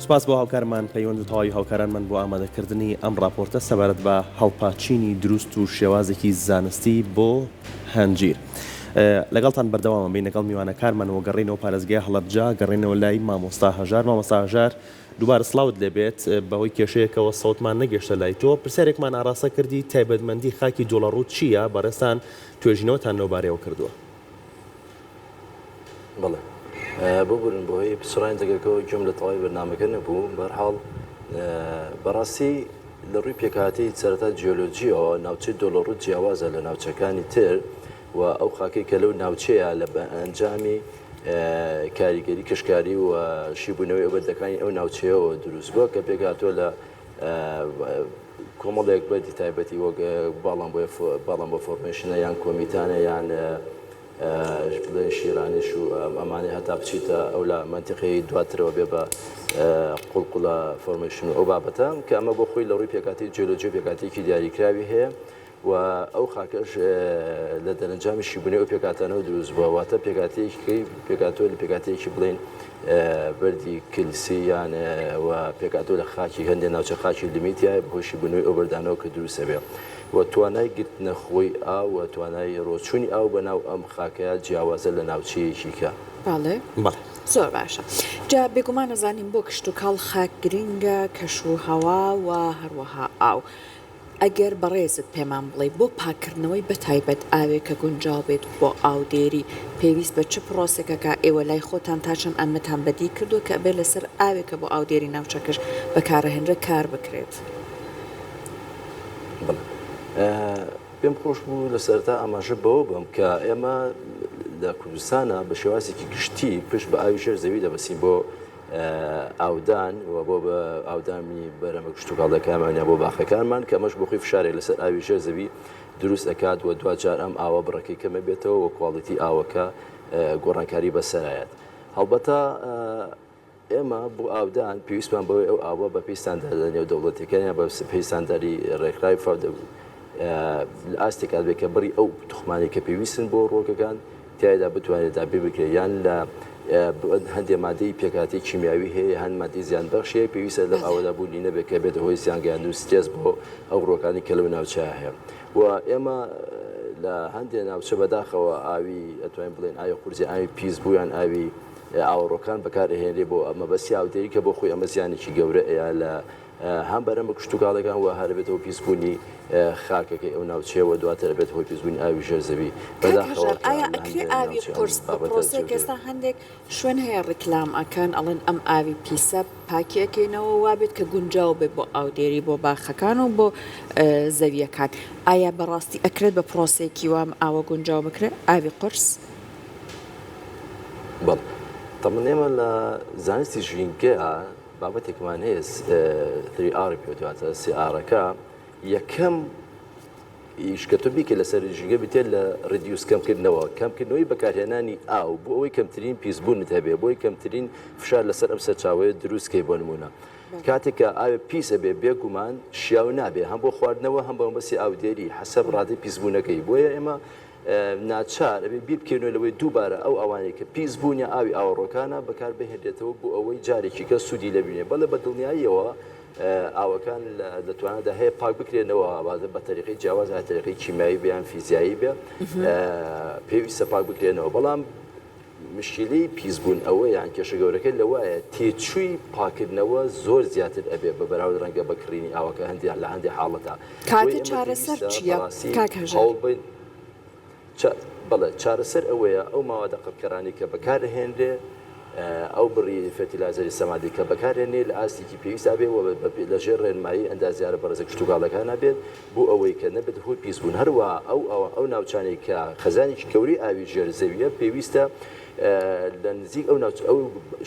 سپاس بۆ هاوکارمان پەیوەند و تەواوی هاوکارانمان بۆ ئامادەکردنی ئەم ڕاپۆرتە سەبارەت بە هەڵپاچینی دروست و شێوازێکی زانستی بۆ هەنجیر. لەگەڵتان بەردەوامم بین لەگەڵ میوانەکارمان و گەڕینەوە پارێزگای هەڵەبجە گەڕێنەوە لای مامۆستا هەژار مامۆستا هەژار دووبارە سڵاوت لێبێت بەهۆی کێشەیەکەوە سەوتمان نەگەشتە لای تۆ پرسیارێکمان ئاراستە کردی تایبەتمەندی خاکی جۆڵەڕوو چییە بەڕێزتان توێژینەوەتان لەو بارەیەوە کردووە. بەڵێ ببورن بۆ هۆی پچڕانی دەگەکەەوە گوێم لە تەواوی بەرنمەکە نەبوو بەرحاڵ بەڕاستی لە ڕووی پێکاتی سەرتا جیۆلۆجیەوە ناوچەی دۆلۆڕوو جیاوازە لە ناوچەکانی تر و ئەو خاکەی کە لەو ناوچەیە لە ئەنجامی کاریگەری کەشکاری و شیبوونەوەی ئەوبەردەکانی ئەو ناوچەیەوە دروست بووە کە پێکاتوە لە کۆمەڵێک بەردی تایبەتی وەک باڵان بۆ باڵان بۆ فۆرمێشنە یان کۆمیتانە یان بڵێن شیرانیش و ئەمانەی هەتا بچیتە ئەو لە منتیقی دواترەوە بێ بە قوڵقڵە فۆرمێشن و ئەو بابەتە کە ئەمە بۆ خۆی لە ڕووی پێکاتی جیۆلۆجی و پێکاتێکی دیاریکراوی هەیە و ئەو خاکەش لە دەرەنجامی شیبونەی ئەو پێکهاتانەوە دروست بووە، واتە پێکهاتەیەکی پێکهاتووە لە پێکهاتەیەکی بڵێین بەردی کلسی یان و پێکهاتووە لە خاکی هەندێ ناوچە خاکی لمی تیایە بەهۆی شیبونەوەی ئەو بەردانەوە کە دروست ئەبێ و توانای گرتنە خۆی ئاو و توانای ڕۆچوونی ئاو بە ناو ئەم خاکەیا جیاوازە لە ناوچەیەکی کە. بەڵێ بەڵێ. زۆر باشە جا بێگومان ئەزانین بۆ کشتوکاڵ خاک گرینگە کەش و هەوا و هەروەها ئاو ئەگەر بەڕێزت پێمان بڵێی بۆ پاککردنەوەی بەتایبەت ئاوێک کە گونجاو بێت بۆ ئاودێری پێویست بە چ پڕۆسەکەکە ئێوە لای خۆتان تا چەند ئەمەتان بەدی کردوە کە ئەبێت لەسەر ئاوێک کە بۆ ئاودێری ناوچەکەش بەکارەهێنرێت کار بکرێت؟ بەڵێ پێم خۆش بوو لە سەرەتا ئاماژە بەوە بەم کە ئێمە لە کوردستانە بە شێوازێکی گشتی پشت بە ئاوی ژێر زەوی دەبەسین بۆ ئاودان و بۆ ئاودانی بەرەمە کشتوکاڵەکانمان یان بۆ باخەکانمان کە ئەمەش بەخۆی فشارێک لەسەر ئاوی ژێر زەوی دروست ئەکات و دواجار ئەم ئاوە بڕەکەی کەم ئەبێتەوە و کواڵیتی ئاوەکە گۆڕانکاری بەسەرایەت هەڵبەتە ئێمە بۆ ئاودان پێویستمان بەوەی ئەو ئاوە بە پێی ستانداردە نێودەوڵەتیەکان یان بە پێی ستانداری ڕێکخراوی فاو لە ئاستێکا بێت کە بڕی ئەو توخمانەی کە پێویستن بۆ ڕووەکەکان تیایدا بتوانرێت دابین بکرێت یان لە هەندێ مادەی پێکهاتەی کیمیاوی هەیە هەن مادەی زیان بەخش هەیە پێویستە لەم ئاوەدا بوونی نەبێت کە بێتە هۆی زیانگەیاندن و سترێس بۆ ئەو ڕووەکانی کە لەو ناوچەیە هەیە و ئێمە لە هەندێ ناوچە بەداخەوە ئاوی ئەتوانین بڵێن ئاوی قورسی ئاوی پیس بوو یان ئاوی ئاوەڕۆکان بەکار ئەهێنرێ بۆ مەبەستی ئاودێری کە بۆ خۆی ئەمە زیانێکی گەورە ئەیە لە هەم بەرەم بە کشتوکاڵەکان وە هەرەبێت هۆی پیسبوونی خاکەکەی ئەو ناوچەیە وە دواتر ئەبێت هۆی پیسبوونی ئاوی ژێر زەوی بەداخەوە کە لە هەندێ ناوچە ئەم بابەتە جێبەجێ هەندێک شوێن هەیە ڕیکلام ئەکەن ئەڵێن ئەم ئاوی پیسە پاکی ئەکەینەوە وابێت کە گونجاو بێت بۆ ئاودێری بۆ باخەکان و بۆ زەویەکان ئایا بەڕاستی ئەکرێت بە پڕۆسەیەکی وا ئەم ئاوە گونجاو بکرێت ئاوی قورس؟ بەڵێ تەمان ئێمە لە زانستی ژینگەیا. بابەتێکمان هەیە سی ئاڕی پێ وترێ، سی ئاڕەکە یەکەم ئیش کە تۆ بیکەیت لەسەر ژینگە بریتییە لە ڕیدیوس کەمکردنەوە، کەمکردنەوەی بەکارهێنانی ئاو بۆ ئەوەی کەمترین پیسبوونت هەبێت، بۆ ئەوەی کەمترین فشار لەسەر ئەم سەرچاوەیە دروست کەیت بۆ نموونە. کاتێک کە ئاوێک پیس ئەبێت بێگومان شیاو نابێت هەم بۆ خواردنەوە هەم بە مەبەستی ئاودێری حەسەب ڕادەی پیسبوونەکەی بۆیە ئێمە ناچار ئەبێ بیربکەوینەوە لەوەی دووبارە ئەو ئاوانەی کە پیس بوون یا ئاوی ئاوەڕۆکانە بەکار بهێنرێتەوە بۆ ئەوەی جارێکی کە سوودی لێ ببینێ. بەڵێ بە دڵنیاییەوە ئاوەکان لە توانادا هەیە پاک بکرێنەوە ئەوە بە تەریقەی جیاواز هەر تەریقەی کیمیایی بێ یان فیزیایی بێ پێویستە پاک بکرێنەوە بەڵام مشکیلەی پیس بوون ئەوەیە یان کێشە گەورەکە لەوایە تێچووی پاکردنەوە زۆر زیاتر ئەبێ بە بەراورد ڕەنگە بە کڕینی ئاو کە هەندێ لە هەندێ حاڵەتا کاتە چارەسەر چیە کاک هەژار؟ بەڵێ چارەسەر ئەوەیە ئەو ماوادە قڕکەرانەی کە بەکار ئەهێنرێ ئەو بڕی فێرتیلایزەری سەمادی کە بەکار هێنێ لە ئاستێکی پێویستا بێ و بە لە ژێر ڕێنمایی ئەندازیارە بەڕێزە کشتوکاڵەکانا بێت بۆ ئەوەی کە نەبێتە هۆی پیسبوون، هەروەها ئەو ناوچانەی کە خەزانێکی گەورەی ئاوی ژێر زەوییە پێویستە لە نزیک ئەو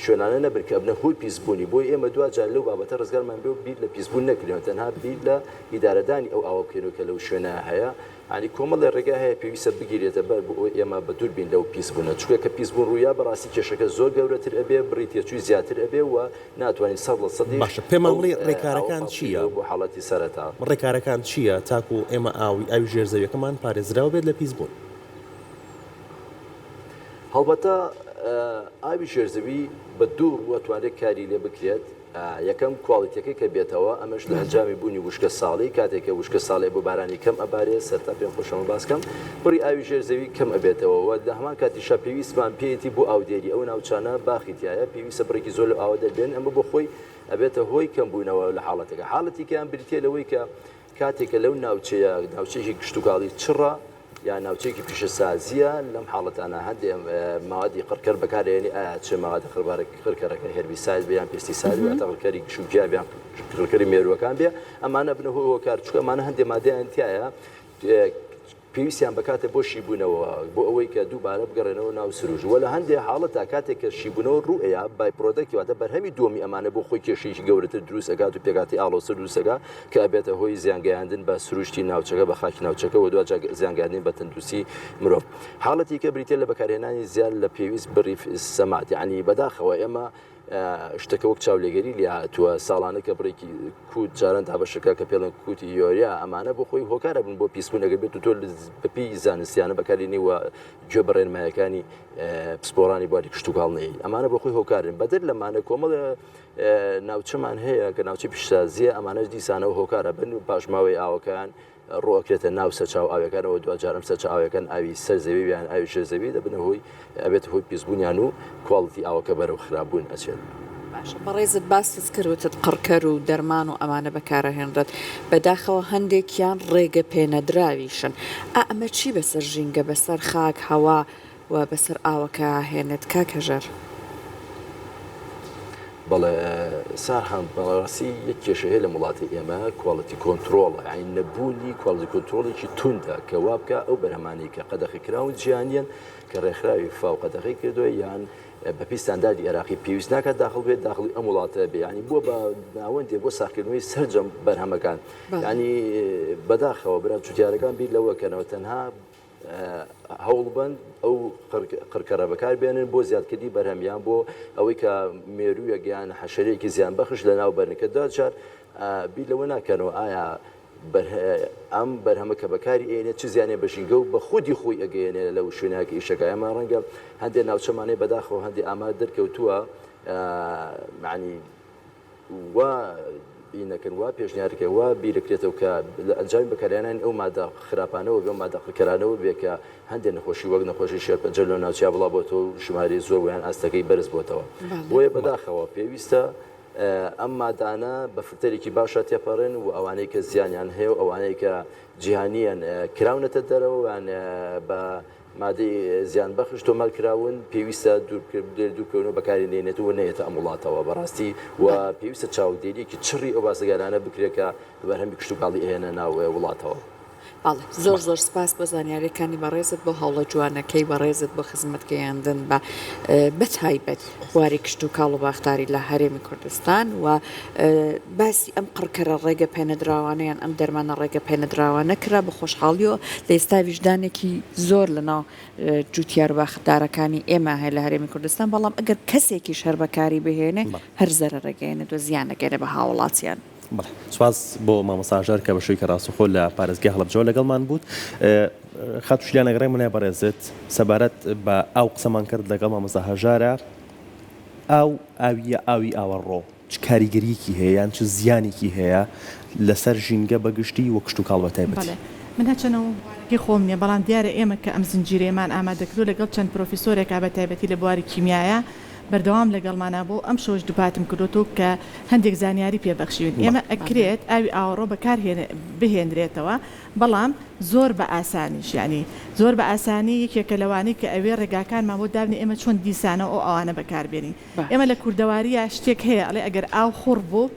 شوێنانە نەبن کە ئەبنە هۆی پیسبوونی، بۆیە ئێمە دواجار لەو بابەتە ڕزگارمان بێ و بیر لە پیسبوون نەکرێ و تەنها بیر لە ئیدارەدانی ئەو ئاوە بکەین و کە لەو شوێنە هەیە یانی کۆمەڵێ ڕێگا هەیە پێویستە بگیرێتە بەر بۆ ئەوەی ئێمە بە دوور بین لەو پیسبوونە چونکە کە پیسبوون ڕوویا بەڕاستی کێشەکە زۆر گەورەتر ئەبێ بڕی تێچووی زیاتر ئەبێ و ناتوانین سەد لە سەدیش باشە پێمان ئەو بڵێ ئاوە ڕێکارەکان پاکبکەین چییە؟ وەکو حاڵەتی سەرەتا. ڕێکارەکان چییە تاکو ئێمە ئاوی ئاوی ژێر زەویەکەمان پارێزراو بێت لە پیس بوون؟ هەڵبەتە ئاوی ژێر زەوی بە دوو ڕووە ئەتوانرێت کاری لێ بکرێت یەکەم کواڵیتیەکەی کە بێتەوە ئەمەش لە ئەنجامی بوونی وشکە ساڵی کاتێک کە وشکە ساڵی ئەبوو بارانی کەم ئەبارێت سەرتا پێم خۆشە ئەمە باس کەم بڕی ئاوی ژێر زەوی کەم ئەبێتەوە وە لە هەمان کاتیشا پێویستمان پێیەتی بۆ ئاودێری ئەو ناوچانە باخی تیایە سفرێکی زۆر لەو ئاوە دەربێنن، ئەمە بۆ خۆی ئەبێتە هۆی کەمبوونەوە لە حاڵەتەکە. حاڵەتی کەیان بریتییە لەوەی کە کاتێک کە لەو ناوچەیە ناوچەیەکی کشتوکاڵی چڕە یان ناوچەیەکی پیشەسازییە، لەم حاڵەتانە هەندێ مەوادی قڕکەر بەکارئێنی ئایا چ مەوادە قڕبارە قڕکەرەکە هێربیساید بێ یان پێستیساید واتە قڕکەری گشت و گیاو یان قڕکەری مێرووەکان بێ ئەمانە ئەبنە هۆی هۆکار چونکە ئەمانە هەندێ مادەیان تیایە پێویستیان بە کاتە بۆ شیبوونەوە بۆ ئەوەی کە دووبارە بگەڕێنەوە ناو سروشت وە لە هەندێ حاڵەتا کاتێک کە شیبوونەوە ڕوو ئەیا بای پرۆدەکت واتە بەرهەمی دووەمی ئەمانە بۆ خۆی کێشەیەکی گەورەتر دروست ئەکات و پێکهاتەی ئاڵۆزتر دروست ئەکا کە ئەبێتە هۆی زیان گەیاندن بە سروشتی ناوچەکە بە خاکی ناوچەکە وە دواجا زیان گەیاندن بە تەندروستی مرۆڤ حاڵەتی کە بریتیە لە بەکارهێنانی زیاد لە پێویست بڕی سەماد یەعنی بەداخەوە ئێمە شتەکە وەک چاولێگەری لێهاتووە، ساڵانە کە بڕێکی کووت جاران دابەشەکە کە پێڵێن کووتی یۆریا ئەمانە بۆ خۆی هۆکار ئەبن بۆ پیسبوون ئەگەر بێتو تۆ بە پێی زانستیانە بەکارلێنی و گوێ بە ڕێنمایەکانی پسپۆڕانی بواری کشتوکاڵ نەیەی ئەمانە بۆ خۆی هۆکارن بەدەر لەمانە کۆمەڵێ ناوچەمان هەیە کە ناوچەی پیشسازیە ئەمانەش دیسانەوە هۆکار ئەبن پاشماوەی ئاوەکەیان ڕۆئەکرێتە ناو سەرچاوە ئاویەکانەوە دواجار ئەم سەرچاوە ئاویەکان ئاوی سەر زەوی یان ئاوی ژێر زەوی دەبنە هۆی ئەبێتە هۆی پیسبونیان و کواڵیتی ئاوەکە بەرەو خراپ بون ئەچێت. باشە بەڕێزت باست کرد وتت قڕکەر و دەرمان و ئەمانە بەکارئەهێنرێت بەداخەوە هەندێکیان ڕێگە پێنەدراویشن ئائەمە چی بەسەر ژینگە بەسەر خاک هەوا وا بەسەر ئاوەکە هێنێت کاک هەژار. بەڵێ سارهام بەڕاستی یەک کێشە هەیە لەم وڵاتی ئێمە کوالتی کۆنتترۆڵە یاین نەبوونی کوالتی کۆنتترۆڵێکی توندا کە وابکە ئەو بەرهەمانی کە قەدەخی کراون جیانیان کە ڕێکخراوی فاو قەدەغی کردووە یان بە پیستاندادی عێراقی پێویست ناکات داخل بێت داخلی ئەم وڵاتە بیانی بووە بە ناوەندێ بۆ ساخکردنەوەی سرجەم بەرهەمەکان ینی بەداخەوە برا جوتیارەکان بیر لەوەکەنەوە تەنها هەوڵبن ئەو قڕکەرە بەکاربێنن بۆ زیادکردنی بەرهەم یان بۆ ئەوەی کە مێروویەک یان حەشەرەیەکی زیانبەخش لەناوبەرن کە دوا جار بیر لەوە ناکەنەوە ئایا ئەم بەرهەمە کە بەکاری ئێنێ چ زیانێ بە ژینگە و بە خودی خۆی ئەگەیەنێ لەو شوێنە کە ئیشەکە ئەمە ڕەنگە هەندێ ناوچەمانەی بەداخەوە هەندێ ئامار دەرکەوتووە مەعنی وا ی نەکەن، وا پێشنیار کە وا بیرکرێتەوە کە لە ئەنجامی بەکارهێنانی ئەو ماددە خراپانەوە بێ و ماددە قڕکەرانەوە بێ کە هەندێ نەخۆشی وەک نەخۆشی شێرپەنجە لەو ناوچەیا بڵاو بۆتەوە و ژمارەی زۆر ویان ئاستەکەی بەرز بۆتەوە. بۆیە بەداخەوە پێویستە ئەم ماددانە بە فلتەرێکی باشا تێپەڕێن و ئەوانەی کە زیانیان هەیە و ئەوانەی کە جیهانییەن کراونەتە دەرەوە ویان بە مادەی زیان بەخش تۆمار کراون پێویستە دووربکەونەوە بەکاری نێنێت و نەیەتە ئەم وڵاتەوە بەڕاستی و پێویستە چاودێریەکی چڕی ئەو بازرگانانە بکرێت کە بەرهەمی کشتوکاڵی ئەیەنە ناو وڵاتەوە. بەڵێ زۆر زۆر سپاس بۆ زانیاریەکانی بەڕێزت بۆ هەوڵە جوانەکەی بەڕێزت بۆ خزمەت گەیاندن بە بە تایبەت. بواری کشتوکاڵ و باخداری لە هەرێمی کوردستان و باسی ئەم قڕکەرە ڕێگە پێنەدراوانەیان ئەم دەرمانە ڕێگە پێنەدراوانە کرا بە خۆشحاڵیەوە لە ئێستا ویژدانێکی زۆر لە ناو جوتیار باخدارەکانی ئێمە هەیە لە هەرێمی کوردستان بەڵام ئەگەر کەسێکیش هەر بەکاری بهێنێ هەر زەرەرەگەێنێت و زیانەگەێنێ بە هاوڵاتیان. بەڵێ سوپاس بۆ مامۆستا هەژار کە بە شوێکی ڕاستەخۆ لە پارێزگای هەڵەبجەوە لەگەڵمان بووت. خاتوو شیلان ئەگەڕێ منای بەڕێزت سەبارەت بە ئاو قسەمان کرد لەگەڵ مامۆستا هەژارە ئاو ئاویە ئاوی ئاوەڕۆ چ کاریگەریەکی هەیە یان چ زیانێکی هەیە لەسەر ژینگە بەگشتی و کشتوکاڵ بە تایبەتی؟ من هەرچەندە مامۆستایەکی خۆم نیە بەڵام دیارە ئێمە کە ئەم زنجیرەیەمان ئامادە کردووە لەگەڵ چەند پرۆفیسۆرێکا بە تایبەتی لە بواری کیمیایا، بەردەوام لەگەڵمانە بۆ ئەمشەوش دوپاتم کردۆتۆ کە هەندێک زانیاری پێ بەخشیون ئێمە ئەکرێت ئاوی ئاوەڕۆ بەکار بهێنرێتەوە بەڵام زۆر بە ئاسانیش یانی زۆر بە ئاسانی یەکێکە لەوانەی کە ئەوێ ڕێگاکانمان بۆ دابنێ ئێمە چۆن دیسانەوە ئەو ئاوانە بەکار بێنین ئێمە لە کوردەواریە شتێک هەیە ئەڵێ ئەگەر ئاو خوڕ بوو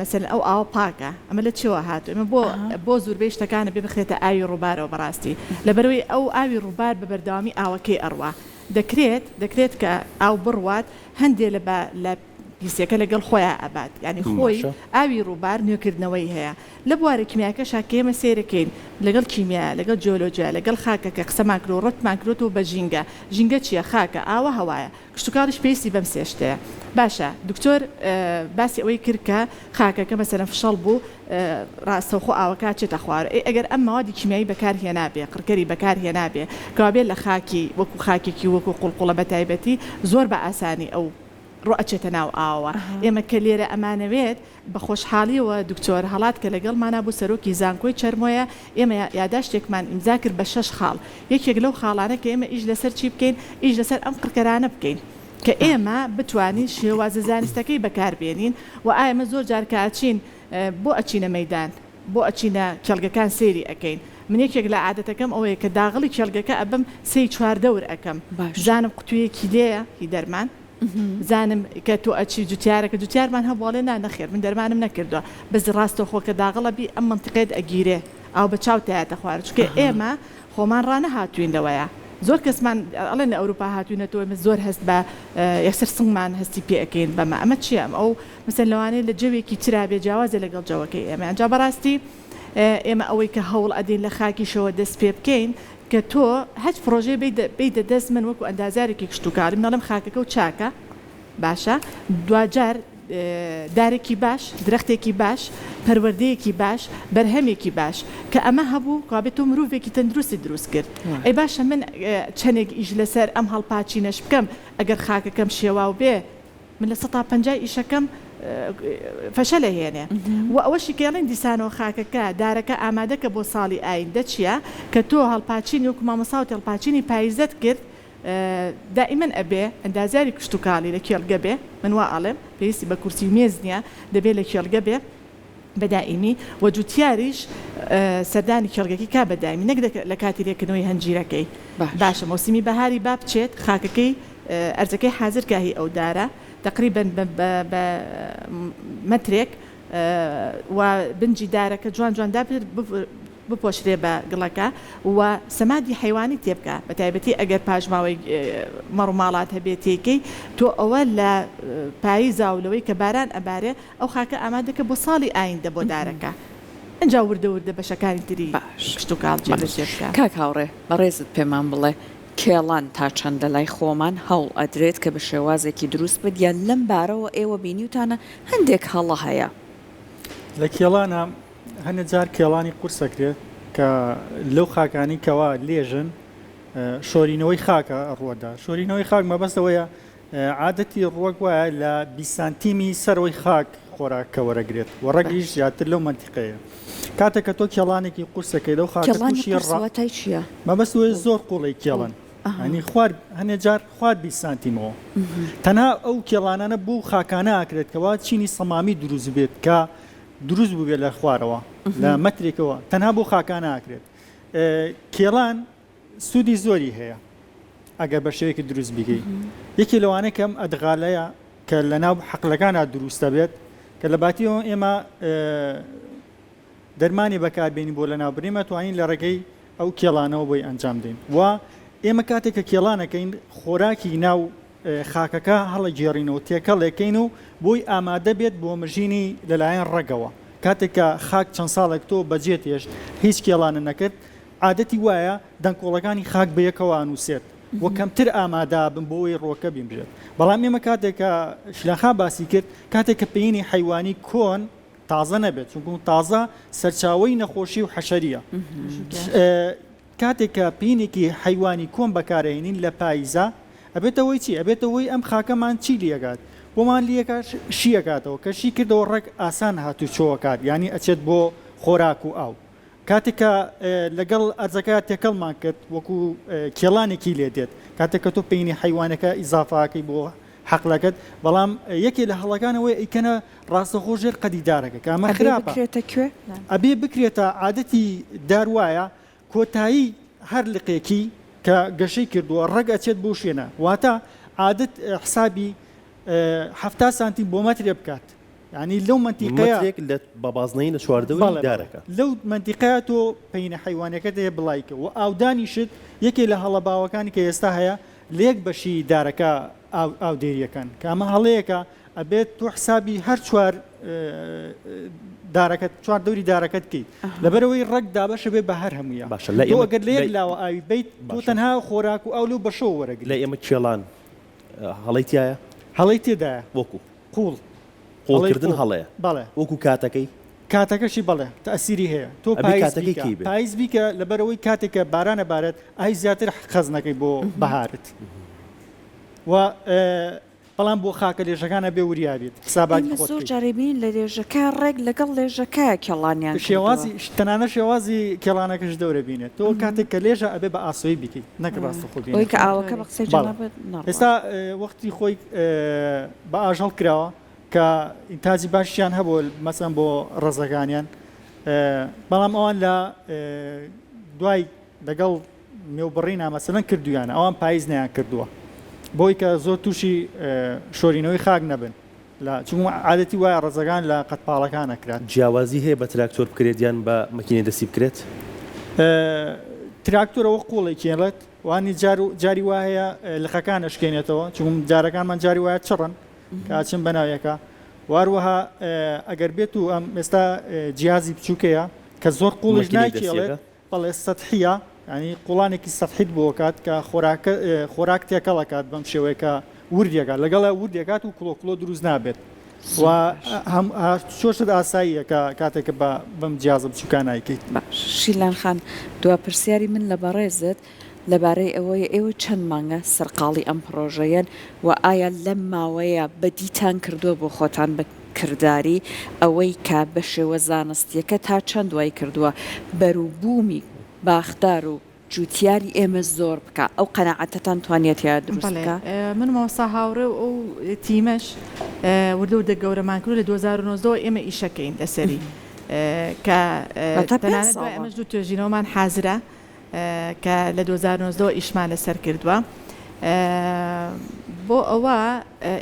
مەسەلەن ئەو ئاوە پاکە ئەمە لە چیەوە هاتووە ئەمە بۆ بۆ زوربەی شتەکانە بێ بخرێتە ئاوی ڕوبارەوە بەڕاستی لەبەرەوەی ئەو ئاوی ڕوبار بە بەردەوامی ئاوەکەی ئەڕوا دەکرێت دەکرێت کە ئاو بڕوات هەندێ لە بە لە پیسیەکە لەگەڵ خۆیا ئەبات یعنی خۆی باشە ئاوی ڕوبار نوێکردنەوەی هەیە لە بوارە کیمیاکەشا کە ئێمە سەیرەکەین لەگەڵ کیمیایە لەگەڵ جیۆلۆجیا لەگەڵ خاکەکە قسەمان کرد و ڕەتمان کردۆتەوە بە ژینگە ژینگە چیە خاکە ئاوە هەوایە کشتوکاڵیش پێویستی بەم سێ شتەیە. باشە دکتۆر باسی ئەوەی کرد کە خاکەکە مەسەلەن فشەڵ بوو ڕاستەوخۆ ئاوەکە ئەچێتە خوارەوە ئەی ئەگەر ئەم مەوادی کیمیایی بەکار هێنابێ قڕکەری بەکار هێنابێ کەوابێ لە خاکی وەکو خاکێکی وەکو قوڵقوڵە بەتایبەتی زۆر بە ئاسانی ئەو ڕۆ ئەچێتە ناو ئاوەوە ئێمە کە لێرە ئەمانەوێت بە خۆشحاڵیەوە دکتۆر هەڵات کە لەگەڵمانە بوو سەرۆکی زانکۆی چەرمۆیە، ئێمە یاداشتێکمان ئیمزا کرد بە شەش خاڵ، یەکێک لەو خاڵانە کە ئێمە ئیش لەسەر چی بکەین، ئیش لەسەر ئەم قڕکەرانە بکەین کە ئێمە بتوانین شێوازە زانستەکەی بەکار بێنین و ئا ئێمە زۆر جار کە ئەچین بۆ ئەچینە مەیدان بۆ ئەچینە کێڵگەکان سەیری ئەکەین، من یەکێک لە عادەتەکەم ئەوەیە کە داغڵی کێڵگەکە ئەبم سێی چوار دەور ئەکەم باشە. بزانم قوتویەکی لێیە هی دەرمان. زانم کە تۆ ئەچی جوتیارەکە جوتیارمان هەبوو ئەڵێ نا نەخێر من دەرمانم نەکردوە بەس ڕاستە خۆ کە داغڵە بی ئەم مەنتیقەیەت ئەگیرێ ئاو بە چاو تایەتە خوارە چونکە ئێمە خۆمان ڕانەهاتووین لەوەیە زۆر کەسمان ئەڵێن لە ئەوروپا هاتووینەتەوە ئێمە زۆر هەست بە یەکسەر سنگمان هەستی پێ ئەکەین بەمە ئەمە چییە ئەم ئەو مثلا لەوانەیە لە جەوێکی ترا بێ جیاوازە لەگەڵ جەوەکەی ئێمە ئەنجا بەڕاستی ئێمە ئەوەی کە هەوڵ ئەدەین لە خاکیشەوە دەست پێ بکەین کە تۆ هەچ پڕۆژەی بەیتە دەست من وەکو ئەندازیارێکی کشتوکاڵیم دەڵێم خاکەکەو چاکە باشە دواجار دارێکی باش درەختێکی باش پەروەردەیەکی باش بەرهەمێکی باش کە ئەمە هەبوو کابێت تۆ مرۆڤێکی تەندروستی دروست کرد ئەی باشە من چەندێک ئیش لەسەر ئەم هەڵپاچینەش بکەم ئەگەر خاکەکەم شێواو بێ من لە سەتا پەنجای ئیشەکەم فەشەلە هێنێ و ئەوەشی کە ئەڵێن دیسانەوە خاکەکە دارەکە ئامادەکە بۆ ساڵی ئایندە چیە کە تۆ هەڵپاچینی وەکو مامۆساوت هەڵپاچینی پایزت کرد دائیمەن ئەبێ ئەندازیاری کشتوکاڵی لە کێڵگە بێ من وا ئەڵێم پێویستی بە کورسی و مێز نیە دەبێ لە کێڵگە بێ بەدائیمی، وە جوتیاریش سەردانی کێڵگەکەی کا بەدائیمی نەک لە کاتی لێکردنەوەی هەنجیرەکەی. باشە مەوسیمی بەهاری با بچێت خاکەکەی ئەرزەکەی حازر کا هی ئەو دارە تەقریبەن بە مەترێک و بنجی دارەکە جوان جوان دابنرێت بپۆشرێ بە گڵەکە و سەمادی حەیوانی تێ بکا بە تایبەتی ئەگەر پاشماوەی مەڕوماڵات هەبێ تێی کەی تۆ ئەوە لە پاییزا و لەوەی کە باران ئەبارێ ئەو خاکە ئامادەکە بۆ ساڵی ئایندە بۆ دارەکە ئنجا وردە وردە بەشەکانی تری باش کشتوکاڵ جێ بەجێ بکە. کاک هاوڕێ بەڕێزت پێمان بڵێ کێڵان تا چەندە لای خۆمان هەوڵ ئەدرێت کە بە شێوازێکی دروست بێت یا لەم بارەوە ئێوە بینیوتانە هەندێک هەڵە هەیە؟ لە کێڵانە هەنێ جار کێڵانی قورس ئەکرێت کە لەو خاکانەی کەوا لێژن شۆرینەوەی خاکە ڕووەدا شۆرینەوەی خاک مەبەست ئەوەیە عادەتی ڕوەک وایە لە بیست سانتیمی سەرەوەی خاک خۆراکە وەرەگرێت و ڕەگیش زیاتر لەو مەنتیقەیە کاتێک کە تۆ کێڵانێکی قورسەکەی لەو خاکە تووشی ڕاتای چییە مەبەست وێ زۆر قوڵی کێڵن ئەنی خوارد هەنێ جار خوارد بیست سانتیمەوە تەنها ئەو کێڵانانە بۆ و خاکانە ئاکرێت کەوا چینی سەمامی دروست بێت کە دروست بووێت لە خوارەوە لە مەترێکەوە تەنها بۆ خاکانە ئاکرێت کێڵان سودی زۆری هەیە ئەگەر بە شێوەیەکی دروست بیگەی یەکی لەوانە کەم ئەدغالەیە کە لە ناو حەقلەکانە دروستە بێت کە لە باتیەوە ئێمە دەرمانی بەکاربیێنی بۆ لە ناوبرێمە توانین لە ڕێگەی ئەو کێڵانەوە بۆی ئەنجام دێن و ئێمە کاتێک کە کێڵانەکەین خۆراکی ناو خاکەکە هەڵەگێڕینەوە تێکەڵێکەین و بۆی ئامادە بێت بۆ مژینی لەلایەن ڕەگەوە کاتێک کە خاک چەند ساڵێک تۆ بەجێت هێشت هیچ کێڵانە نەکرد عادەتی وایە دەنکۆڵەکانی خاک بەیەکەوە ئانوسێت و کەمتر ئامادابن بۆی ڕوەکە بینرێت بەڵام ئێمە کاتێک کە شلەخا باسی کرد کاتێک کە پێینی حیوانی کۆن تازە نەبێت چونکو تازە سەرچاوی نەخۆشی و حەشەریە کاتێک کە پینێکی حەیوانی کۆن بەکارئەهینین لە پایزا ئەبێتە هۆی چی؟ ئەبێتە هۆی ئەم خاکەمان چی لیەکات؟ بۆمان لیەکا شی ئەکاتەوە کە شی کردەوە ڕێک ئاسان هاتوچۆ ئەکات یانی ئەچێت بۆ خۆراک و ئاو کاتێک کە لەگەڵ ئەرزەکە تێکەڵمان کرد وەکو کێڵانێکی لێ دێت کاتێک کە تۆ پینی حەیوانەکە ئیزافاکەی بۆ حەقلەکەت بەڵام یەکێ لە هەڵەکانەوەی ئەیکەنە ڕاستەخۆ ژێر قەدی دارەکە کە ئەمە خراپە. ئەبێ بکرێتە کوێ؟ ئەبێ بکرێتە، عادەتی دار وایە کۆتایی هەر لقێکی کە گەشەی کردووە ڕەگ ئەچێت بەو شوێنە، واتە عادەت حسابی حەفتا سانتیم بۆ مەترێ بکات یانی لەو مەنتیقەیە. مەترێک لە بە بازنەیی لە چواردەوری دارەکە. بەڵێ لەو مەنتیقەیە تۆ پەینە حەیوانیەکەت هەیە بڵای کە و ئاودانیشت یەکێ لە هەڵە باوەکانی کە ئێستا هەیە لە یەک بەشی دارەکە ئاودێریەکەن کە ئەمە هەڵەیەکە ئەبێت تۆ حسابی هەر چوار دارەکەت چوار دەوری دارەکەت بکەیت لەبەرەوەی ڕەگ دابەشە بێ بە هەر هەموویە باشە لە ئێمە گەر لە یەک لاوە ئاوی بیت بۆ تەنها خۆراک و ئەو لەو بەشەوە وەرەگ لە ئێمە کێڵان هەڵی تایە هەڵی تێدایە وەکو قوڵ قوڵکردن هەڵەیە بەڵێ وەکو کاتەکەی کاتەکەشی بەڵێ تەسیری هەیە تۆ پایز بیکە لەبەرەوەی کاتێکە بارانە بارەت ئای زیاتر خەزنەکەی بۆ بەهارت و بەڵام بۆ خاکە لێژەکان ئەبێ وریا بیت حساباتی خۆت بکەیت. ئێمە زۆر جاریی بینین لە لێژەکە ڕێک لەگەڵ لێژەکە کێڵانیان کردووە. شێوازی تەنانەت شێوازی کێڵانەکەش دەورە بینێت. تۆ کاتێک کە لێژە ئەبێ بە ئاسۆیی بیکەیت نەک ڕاستەخۆ بینێت. بۆیە کە ئاوەکە بە قسەی جەنابت نەڕوات. ئێستا وەختی خۆی بە ئاژەڵ کراوە کە ئینتاجی باشیان هەبووە مەسەن بۆ ڕەزەکانیان بەڵام ئەوان لە دوای لەگەڵ نێوبڕینا مەسەلەن کردویانە ئەوان پایز نەیان کردووە بۆی کە زۆر تووشی شۆرینەوەی خاک نەبن لە چون عادەتی وایە ڕزەگان لە قەت پاڵەکان ئەکران. جیاوازی هەیە بە تراکتۆر بکرێت یان بە مەکینەی دەستی بکرێت؟ تراکتۆر ئەوە قوڵی کێڵێت وانی جار جاری وا هەیە لقەکان ئەشکێنێتەوە چون جارەکانمان جاری وایە چڕن کاچن بەناویەکە واروەها ئەگەر بێت و ئەم ئێستا جیازی بچووکەیە کە زۆر قوڵیش ناکێڵێت بەڵێ سەتحیە یانی قوڵانێکی سەتحیت بۆ ئەکات کە خۆراکە خۆراک تێکەڵ ئەکات بەم شێوەیە کە وردی ئەکات لەگەڵا وردی ئەکات و کڵۆ کڵۆ دروست نابێت و هەم چۆ شت ئاساییە کە کاتێک کە بە بەم جیازە بچوکانە ئەیکەیت. باش شیلان خان دوا پرسیاری من لە بەڕێزت لەبارەی ئەوەیە ئێوە چەند مانگە سەرقاڵی ئەم پڕۆژەیەن و ئایا لەم ماوەیە بەدیتان کردووە بۆ خۆتان بە کرداری، ئەوەی کە بە شێوە زانستییەکە تا چەند وای کردووە بەروبوومی باخدار و جووتیاری ئێمە زۆر بکا، ئەو قەناعەتەتان توانییە تێیا دروست بکا؟ بەڵێ، من و مامۆستا هاوڕێ و ئەو تیمەش وردە وردە گەورەمان کرد و لە دوو هەزار و نۆزدە وە ئێمە ئیش ئەکەین لەسەری کە تەنانەت دوای ئەمەش دوو توێژینەوەمان حازرە. کە لە دوو هەزار و نۆزدە وە ئیشمان لەسەر کردووە بۆ ئەوە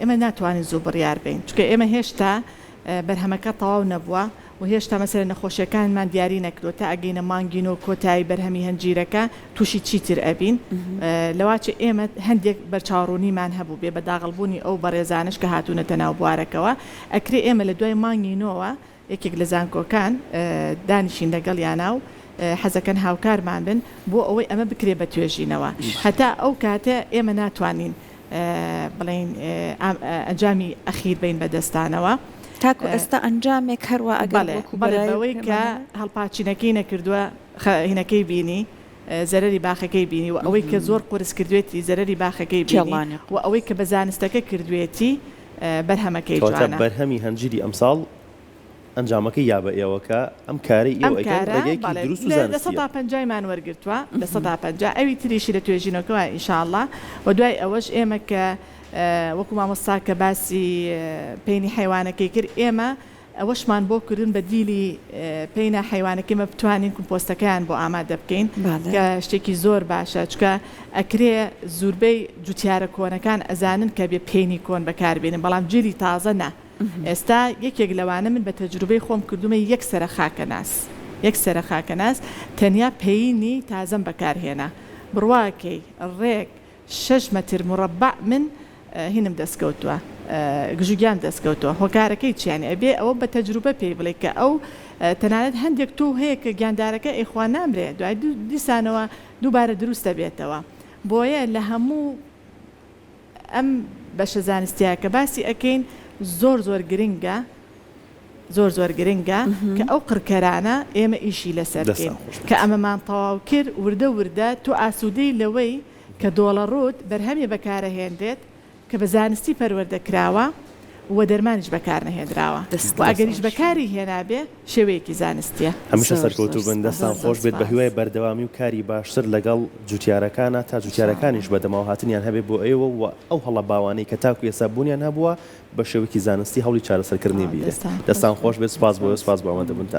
ئێمە ناتوانین زوو بڕیار بین چکە ئێمە هێشتا بەرهەمەکە تەواو نەبووە و هێشتا مەسەر نەخۆشیەکانمان دیاری نەکرۆ تا ئەگەینە مانگین و کۆتایی بەرهەمی هەنجیرەکە تووشی چیتر ئەبین لەواچ ئێمە هەندێک بەرچاوڕوونیمان هەبوو بێ بەداغڵبوونی ئەو بەڕێزانش کە هاتوونەتە ناو بوارەکەەوە ئەکرێ ئێمە لە دوای مانگینەوە یەکێک لە زانکۆکان دانیشین لەگەڵیانا و حەزەکەن هاوکارمان بن بۆ ئەوەی ئەمە بکرێت بە توێژینەوە هەتا ئەو کاتە ئێمە ناتوانین بڵێین ئەنجامی ئەخیر بین بەدەستانەوە. تاکو ئێستا ئەنجامێک هەروا ئەگەر بەڵێ بەڵێ بەوەی کە هەڵپاچینەکەی نەکردووە خەینەکەی بینی زەرەری باخەکەی بینی و ئەوەی کە زۆر قورس کردوێتی زەرەری باخەکەی بینی و ئەوەی کە بە زانستەکە کردوێتی بەرهەمەکەی جوانە. کەواتە بەرهەمی هەنجیری ئەمساڵ ئەنجامەکەی یا بە ئێوە کە ئەم کارەی ئێوە ئەیکەن ڕێگەیەکی دروست و زانستیە. ئەم کارە بەڵێ لە سەدا پەنجای مان وەرگرتوە لە سەدا پەنجا ئەوی تریشی لە توێژینەوەکەوە ان شاء اللە وە دوای ئەوەش ئێمە کە وەکو مامۆستا کە باسی پەینی حەیوانەکەی کرد ئێمە ئەوەشمان بۆ کردن بە دیلی پەینا حەیوانەکەی مە بتوانین کمپۆستەکەیان بۆ ئامادە بکەین کە شتێکی زۆر باشە چکە ئەکرێ زوربەی جوتیارە کۆنەکان ئەزانن کە بێ پێینی کۆن بەکاربێنن بەڵام جلی تازە نا ئێستا یەکێک لەوانە من بە تەجروبەی خۆم کردومە یەک سەرە خاکە ناس یەک سەرە خاکە ناس تەنیا پەینی تازەم بەکارهێنا بڕواکەی ڕێک شەش مەتر مورەبع من هینم دەست کەوتوە گژوگیان دەست کەوتوە هۆکارەکەی چیانە ئەبێ ئەوە بە تەجروبە پێی بڵێ کە ئەو تەنانەت هەندێک تۆو هەیە کە گیاندارەکە ئەی خوا نامرێ دوای دوو دیسانەوە دووبارە دروست دەبێتەوە بۆیە لە هەموو ئەم بەشە زانستیە کە باسی ئەکەین زۆر زۆر گرنگە زۆر زۆر گرنگە کە ئەو قڕکەرانە ئێمە ئیشی لەسەر بکەین کە ئەمەمان تەواو کرد وردە وردە تۆ ئاسودەی لەوەی کە دۆڵەڕووت بەرهەمی بەکارەهێنرێت کە بە زانستی پەروەردە کراوە و دەرمانیش بەکار نەهێنراوە و ئەگەریش بەکاری هێنابێ شێوەیەکی زانستیە. هەمیشە سەرکەوتوو بن دەستان خۆش بێت بەهیوای بەردەوامی و کاری باشتر لەگەڵ جوتیارەکانە تا جوتیارەکانیش بەدەمەوە هاتنیان هەبێت بۆ ئێوە و ئەو هەڵە باوانەی کە تاکو ئێستا بوونیان هەبووە بەشێوەکی زانستی هەوڵی چارەسەرکردنی بدرێت. دەستان خۆش بێت سوپاس بۆ سوپاس بۆ ئامادەبوونتان.